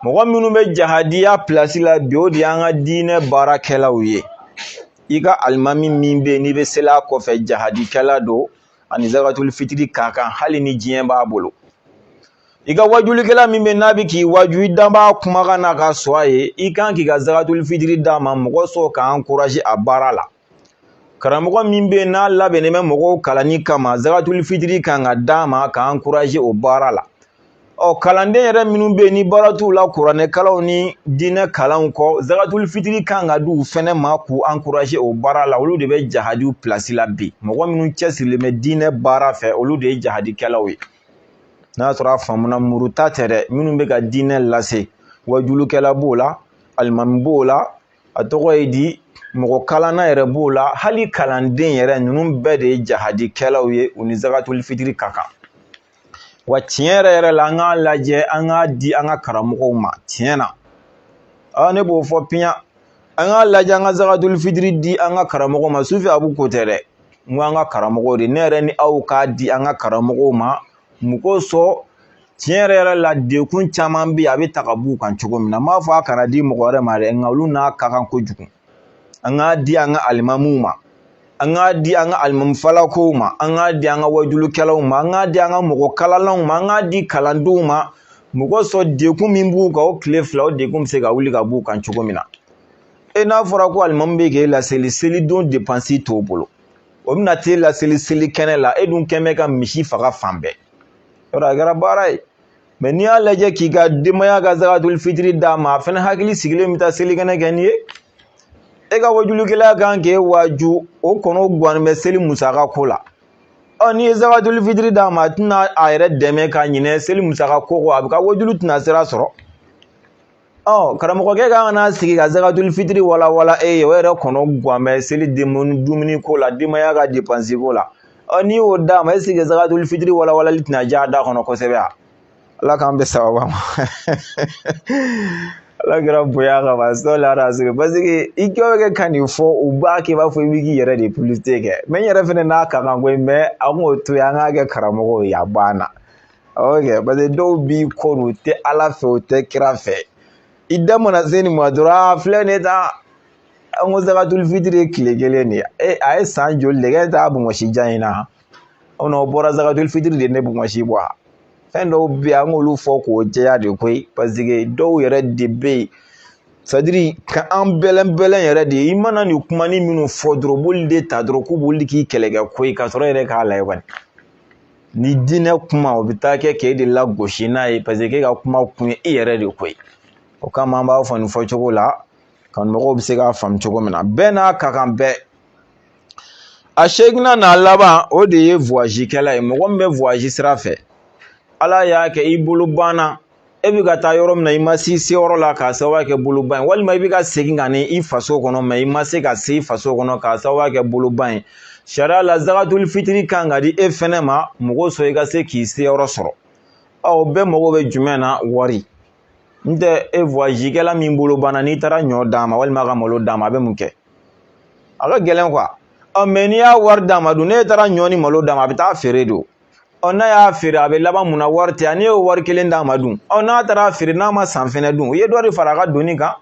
mɔgɔ minnu bɛ jahadiya pilasi la bi o de y'an ka diinɛ baarakɛlaw ye i ka alimami min bɛ yen n'i bɛ seli a kɔfɛ jahadikɛla don a ni zakatul fitiri ka kan hali ni diɲɛ b'a bolo i ka wajulikɛla min bɛ n'a bɛ k'i waju i dan b'a kumakan na ka sɔn a ye i kan k'i ka zakatul fitiri d'a ma mɔgɔ sɔrɔ k'a ankurazi a baara la karamɔgɔ min bɛ n'a labɛnnen bɛ mɔgɔw kalanni kama zakatul fitiri kan ka d'a ma k'a ankurazi o baara la ɔ kalanden yɛrɛ minnu bɛ yen ni baara t'u la kuranɛ kalanw ni diinɛ kalanw kɔ zagatuli fitiri kan ka di u fɛnɛ ma k'u ankuraze o baara la olu de bɛ jahadiw pilasi la bi mɔgɔ minnu cɛsirilen bɛ diinɛ baara fɛ olu de ye jahadikɛlaw ye n'a sɔrɔ a faamuna muru ta tɛ dɛ minnu bɛ ka diinɛ lase wajulukɛla b'o la alimami b'o la a tɔgɔ ye di mɔgɔ kalanna yɛrɛ b'o la hali kalanden yɛrɛ ninnu bɛɛ de ye jahadikɛlaw ye u ni zagatuli fitiri ka kan wa tiɲɛ yɛrɛ yɛrɛ la an k'a lajɛ an k'a di an ka karamɔgɔw ma tiɲɛ na aa ne b'o fɔ piyan an k'a lajɛ an ka zagatuli fitiri di an ka karamɔgɔw ma sufi abu ko tɛ dɛ n ko an ka karamɔgɔw de ne yɛrɛ ni aw k'a di an ka karamɔgɔw ma mun kosɔn tiɲɛ yɛrɛ yɛrɛ la dekun caman bɛ yen a bɛ ta ka b'u kan cogo min na n m'a fɔ a kana di mɔgɔ wɛrɛ ma dɛ nka olu n'a ka kan kojugu an k'a di an ka alimamuw ma an k'a di an ka alimamufalakow ma an k'a di an ka wajulukɛlaw ma an k'a di an ka mɔgɔ kalanlanw ma an k'a di kalandenw ma mun kosɔn dekun min b'u kan o tile fila o dekun bɛ se ka wuli ka b'u kan cogo min na e n'a fɔra ko alimamu bɛ k'e laseli selidon depansi t'o bolo o bɛna t'e laseli seli kɛnɛ la e dun kɛn bɛ ka misi faga fan bɛɛ yɔrɔ a kɛra baara ye mɛ n'i y'a lajɛ k'i ka denbaya ka zakatul fitiri d'a ma a fɛnɛ hakili sigilen bɛ taa selikɛnɛ kɛ nin ye e ka wajulukɛla kan k'e waaju o kɔnɔ guwanen bɛ seli musaka ko la ɔ n'i ye zakatul fitiri d'a ma a tɛna a yɛrɛ dɛmɛ ka ɲinɛ seli musaka ko kɔ a bɛ ka wajulu tɛna sira sɔrɔ ɔ karamɔgɔkɛ ka n'a sigi ka zagatuli fitiri walawala e ye o yɛrɛ kɔnɔ gan bɛ seli dumuni ko la denbaya ka depansi ko la ɔ n'i y'o d'a ma est-ce que zagatuli fitiri walawalali tɛna diya a da kɔnɔ kosɛbɛ wa ala k'an bɛn sawaba ma ala kira bonya kama sɔli rasul parce que i kɛ bɛ kɛ ka nin fɔ u b'a kɛ i b'a fɔ i bɛ k'i yɛrɛ de publicité kɛ mɛ n yɛrɛ fɛnɛ n'a ka kan koyi mɛ an k'o to yen an k'a kɛ karamɔgɔw ye a banna oke paseke dɔw b'i kɔ don u tɛ ala fɛ u tɛ kira fɛ i da mana se nin ma dɔrɔn a filɛ nin ye tan an ko zakatul fitiri ye tile kelen de ye e a ye san joli de kɛ e t'a bɔnsi jan in na o na o bɔra zakatul fitiri de ne bɔnsi bɔ a fɛn dɔw bɛ yen an k'olu fɔ k'o jɛya de koyi paseke dɔw yɛrɛ de bɛ yen sadiri ka an bɛlɛnbɛlɛn yɛrɛ de i mana nin kumanin minnu fɔ dɔrɔn b'olu de ta dɔrɔn k'u b'olu k'i kɛlɛkɛ ko ye k'a sɔrɔ e yɛrɛ k'a layɛ kɔni ni diinɛ kuma o bɛ taa kɛ k'e de lagosi n'a ye paseke k'e ka kuma kun ye e yɛrɛ de ko ye o kama an b'a fɔ nin fɔcogo la kanumɔgɔw bɛ se k'a faamu cogo min na bɛɛ n'a ka kan bɛɛ a seeginnan n'a laban o de ye voyage kɛla ye mɔgɔ min bɛ voyage sira fɛ ala y'a kɛ i bolo banna e bɛ ka taa yɔrɔ min na i ma s'i seyɔrɔ la k'a sababu kɛ boloban ye walima i bɛ ka segin ka na i faso kɔnɔ mɛ i ma se ka se i faso kɔnɔ k'a sababu kɛ boloban ye sariya la zagatuli fitiri kan ka di e fɛnɛ ma mun kosɔn i ka se k'i seyɔrɔ sɔrɔ ɔ bɛɛ mago bɛ jumɛn na wari n tɛ e voyage kɛla min bolo banna n'i taara ɲɔ d'a ma walima ka malo d'a ma a bɛ mun kɛ a ka gɛlɛn kuwa ɔ mɛ n'i y'a wari d'a ma dun n'e taara ɲɔ ni malo d'a ma a bɛ taa feere don ɔ n'a y'a feere a bɛ laban mun na wari tɛ yan n'i y'o wari kelen d'a ma dun ɔ n'a taara feere n'a ma san fɛnɛ dun u ye dɔ de fara a ka doni kan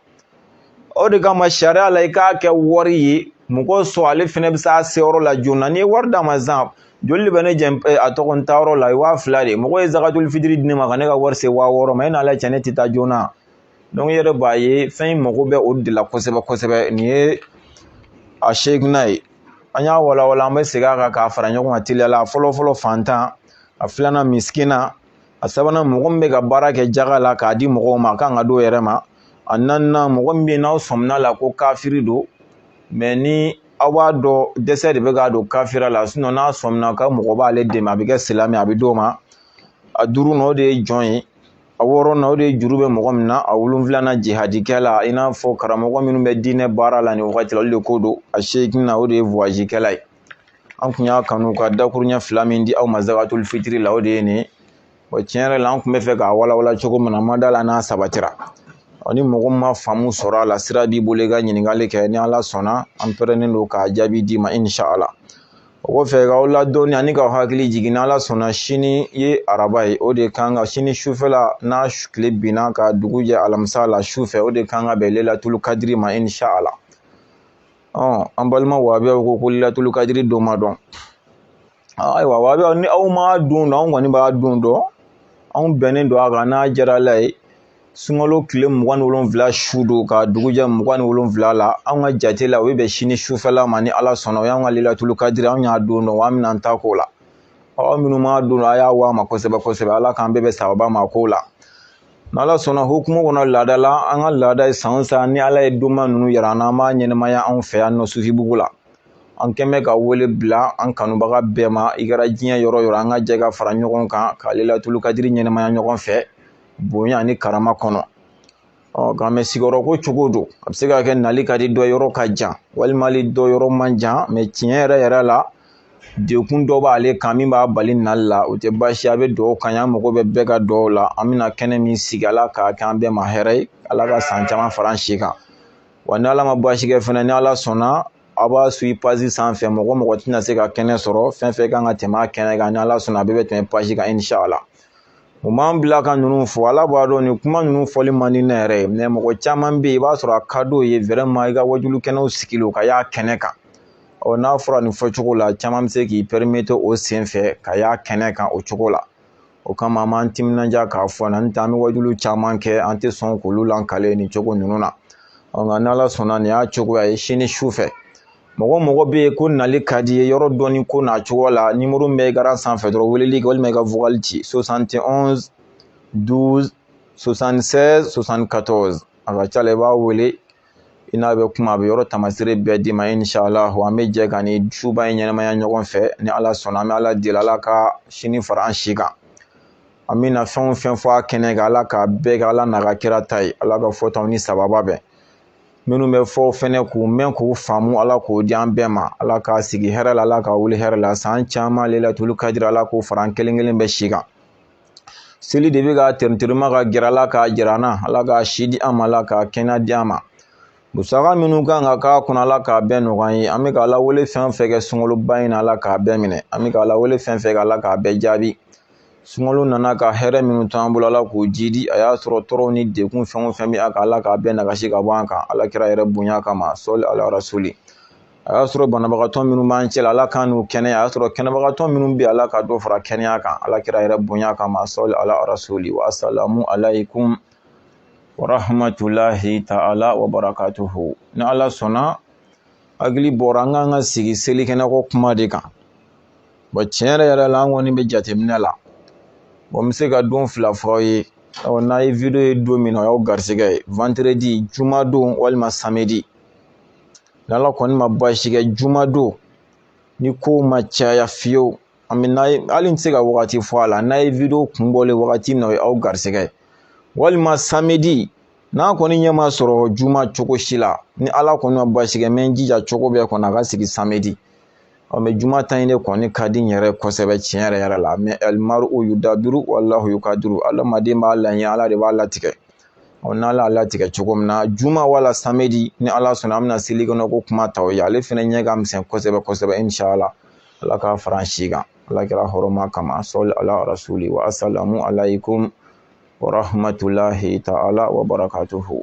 o de kama sariya la i k'a kɛ wari ye mɔgɔ sɔn ale fɛnɛ bɛ s'a seyɔrɔ la joona n'i ye wari d'a ma sisan joli de bɛ ne jɛ a tɔgɔ n taayɔrɔ la waa fila de mɔgɔ ye zakatul fitiri di ne ma ka ne ka wari se waa wɔɔrɔ ma e n'ala cɛ ne tɛ taa joona i yɛrɛ b'a ye fɛn in mago bɛ o de la kosɛbɛ kosɛbɛ nin ye a seeginna ye an y'a walawala an bɛ segin a kan k'a fara ɲɔgɔn kan teliya la fɔlɔ fɔlɔ fantan a filanan misikina a sabanan mɔgɔ min bɛ ka baara kɛ jaga la k'a di mɔgɔw ma a kan ka d'o yɛrɛ ma a naaninan mɔgɔ min bɛ yen n'aw sɔmina la ko kafiri don mɛ ni aw b'a dɔn dɛsɛ de bɛ k'a don kafira la n'a sɔmina ka mɔgɔ b'ale dɛmɛ a bɛ kɛ silamɛ a bɛ d'o ma a duurunan o de ye jɔn ye A wɔɔrɔn na o de ye juru bɛ mɔgɔ min na a wolonwula na jihadikɛla i n'a fɔ karamɔgɔ minnu bɛ diinɛ baara la nin wagati la olu de ko don a seeginna na o de ye voyage kɛla ye an kun y'a kanu ka dakuruɲɛ fila min di aw ma zakatul fitiri la o de ye nin o tiɲɛ yɛrɛ la an kun bɛ fɛ k'a walawala cogo min na ma da la n'a sabatira ɔ ni mɔgɔ ma faamu sɔrɔ a la sira b'i bolo i ka ɲininkali kɛ ni ala sɔnna an pɛrɛnnen don k'a jaabi d'i ma inshala o kɔfɛ k'aw ladɔnni ani k'aw hakili jigin n'ala sɔnna sini ye araba ye o de kan ka sini sufɛla n'a tile binna ka dugu jɛ alamisa la sufɛ o de kan ka bɛn lelatulu kadiri ma inshala ɔ an balima wabiyaw ko ko lelatulu kadiri don ma dɔn ayiwa wabiyaw ni aw ma don dɔn anw kɔni b'a don dɔn anw bɛnnen don a kan n'a diyara ala ye sunkalo tile mugan ni wolonwula su don ka dugu jɛ mugan ni wolonwula la anw ka jate la o bɛ bɛn sini sufɛla ma ni ala sɔnna o y'an ka lelatulu kadiri anw y'a don dɔn an bɛna an ta k'o la aw minnu m'a dɔn a y'a w'a ma kosɛbɛ kosɛbɛ ala k'an bɛɛ bɛn sababa ma k'o la n'ala sɔnna hukumu kɔnɔ laada la an ka laada ye san san ni ala ye donba ninnu yira an na an b'a ɲɛnɛmaya anw fɛ yan nɔ sufibugu la an kɛn bɛ ka wele bila an kanubaga bɛɛ ma i kɛra diɲɛ yɔrɔ yɔrɔ an ka jɛ ka fara ɲɔgɔn kan ka lelatulu kadiri ɲɛnɛmaya ɲɔgɔn fɛ bonya ni karama kɔnɔ ɔ nka mɛ sigiyɔrɔ ko cogo don a bɛ se ka kɛ nali ka di dɔ yɔrɔ ka jan walima dɔ yɔrɔ man jan mɛ tiɲɛ yɛrɛ yɛrɛ la degun dɔ b'ale kan min b'a bali nali la o tɛ baasi a bɛ dugawu kɛ an mago bɛ bɛɛ ka dugawu la an bɛna kɛnɛ min sigi ala k'a kɛ an bɛɛ ma hɛrɛ ye ala ka san caman fara an si kan wa ni ala ma baasi kɛ fana ni ala sɔnna aw b'a suivre page sanfɛ mɔgɔ mɔgɔ tɛna se ka kɛnɛ sɔrɔ fɛn fɛn kan ka tɛmɛ a kɛnɛ kan ni ala sɔnna a bɛɛ bɛ tɛmɛ page kan inshala o m'an bila ka ninnu fɔ ala b'a dɔn nin kuma ninnu fɔli man di ne yɛrɛ ye mɛ mɔgɔ caman bɛ yen i b'a sɔrɔ a ka d'o ye vraiment i ka wajulu kɛnɛw sigilen ka y'a kɛnɛ kan ɔ n'a fɔra nin fɔcogo la caman bɛ se k'i permettre o sen fɛ ka y'a kɛnɛ kan o cogo la o kama an b'an timinanja k'a fɔ na n'o tɛ an bɛ wajulu caman kɛ an tɛ sɔn k'olu lankale nin cogo ninnu na ɔ nka n'ala sɔnna nin y'a cogoya ye sini su fɛ mɔgɔ mɔgɔ bɛ yen ko nali ka di ye yɔrɔ dɔnni ko n'a cogo la nimoro min bɛ écran sanfɛ dɔrɔn weleli kɛ walima i ka vocal ci 71 12 76 74 a ka ca la i b'a wele i n'a bɛ kuma a bɛ yɔrɔ tamasire bɛɛ d'i ma inshallah an bɛ jɛ ka nin suba in ɲɛnamaya ɲɔgɔn fɛ ni ala sɔnna an bɛ ala deli ala ka sini fara an si kan an bɛna fɛn o fɛn fɔ a kɛnɛ kan ala k'a bɛɛ kɛ ala n'a ka kira ta ye ala ka fɔtaw ni sababa bɛn minnu bɛ fɔ fɛnɛ k'u mɛn k'u faamu ala k'o di an bɛɛ ma ala k'a sigi hɛrɛ la ala k'a wuli hɛrɛ la san caman lailatul kadiri ala k'o fara an kelen kelen bɛɛ si kan seli de bɛ ka tɛrɛntɛrɛma ka gɛrɛ ala k'a jira an na ala k'a si di an ma ala k'a kɛnɛya di an ma musaka minnu kan ka k'a kɔnɔ ala k'a bɛɛ nɔgɔya ye an bɛ ka lawele fɛn fɛn kɛ sunkaloba in na ala k'a bɛɛ minɛ an bɛ ka lawele fɛn fɛn kɛ ala k'a bɛɛ jaabi sunkalo nana ka hɛrɛ minnu to an bolo ala k'o jidi a y'a sɔrɔ tɔɔrɔw ni degun fɛn o fɛn bɛ an kan ala k'a bɛɛ nagasi ka bɔ an kan ala kira yɛrɛ bonya kama sɔli ala rasuli a y'a sɔrɔ banabagatɔ minnu b'an cɛla ala k'an n'u kɛnɛya a y'a sɔrɔ kɛnɛbagatɔ minnu bɛ ala ka dɔ fara kɛnɛya kan ala kira yɛrɛ bonya kama sɔli ala rasuli wa salamu alaykum wa rahmatulahi ta'ala wa barakatuhu ni ala sɔnna hakili b'o ra an kan ka sigi selikɛnɛko kuma de kan bɔn tiɲɛ yɛrɛ yɛrɛ la an kɔni bɛ jateminɛ la bɔn n bɛ se ka don fila fɔ aw ye ɔ n'a ye video ye don min na o y'aw garisɛgɛ ye vendredi juma don walima samedi n'ala kɔni ma baasi kɛ juma don ni kow ma caya fiyewu an bɛn'a ye hali n tɛ se ka wagati fɔ a la n'a ye video kun bɔlen wagati min na o ye aw garisɛgɛ ye walima samedi n'a kɔni ɲɛ ma sɔrɔ juma cogo si la ni ala kɔni ma baasi kɛ n bɛ n jija cogo bɛɛ kɔnɔ a ka sigi samedi ɔ mɛ juma ta in de kɔni ka di n yɛrɛ kosɛbɛ tiɲɛ yɛrɛ yɛrɛ la mɛ alimaru yudabiru walahu yukadiru adamaden b'a laɲɛ ala de b'a latigɛ ɔ n'ala y'a latigɛ cogo min na juma wala samedi ni ala sɔnna an bɛna seli kɔnɔ ko kuma ta aw ye ale fana ɲɛ ka misɛn kosɛbɛ kosɛbɛ inshala ala k'a fara an si kan ala kira hɔrɔma kama sɔli ala rasuli wa asalamu alaikum wa rahmatulahi taala wa barakatuhu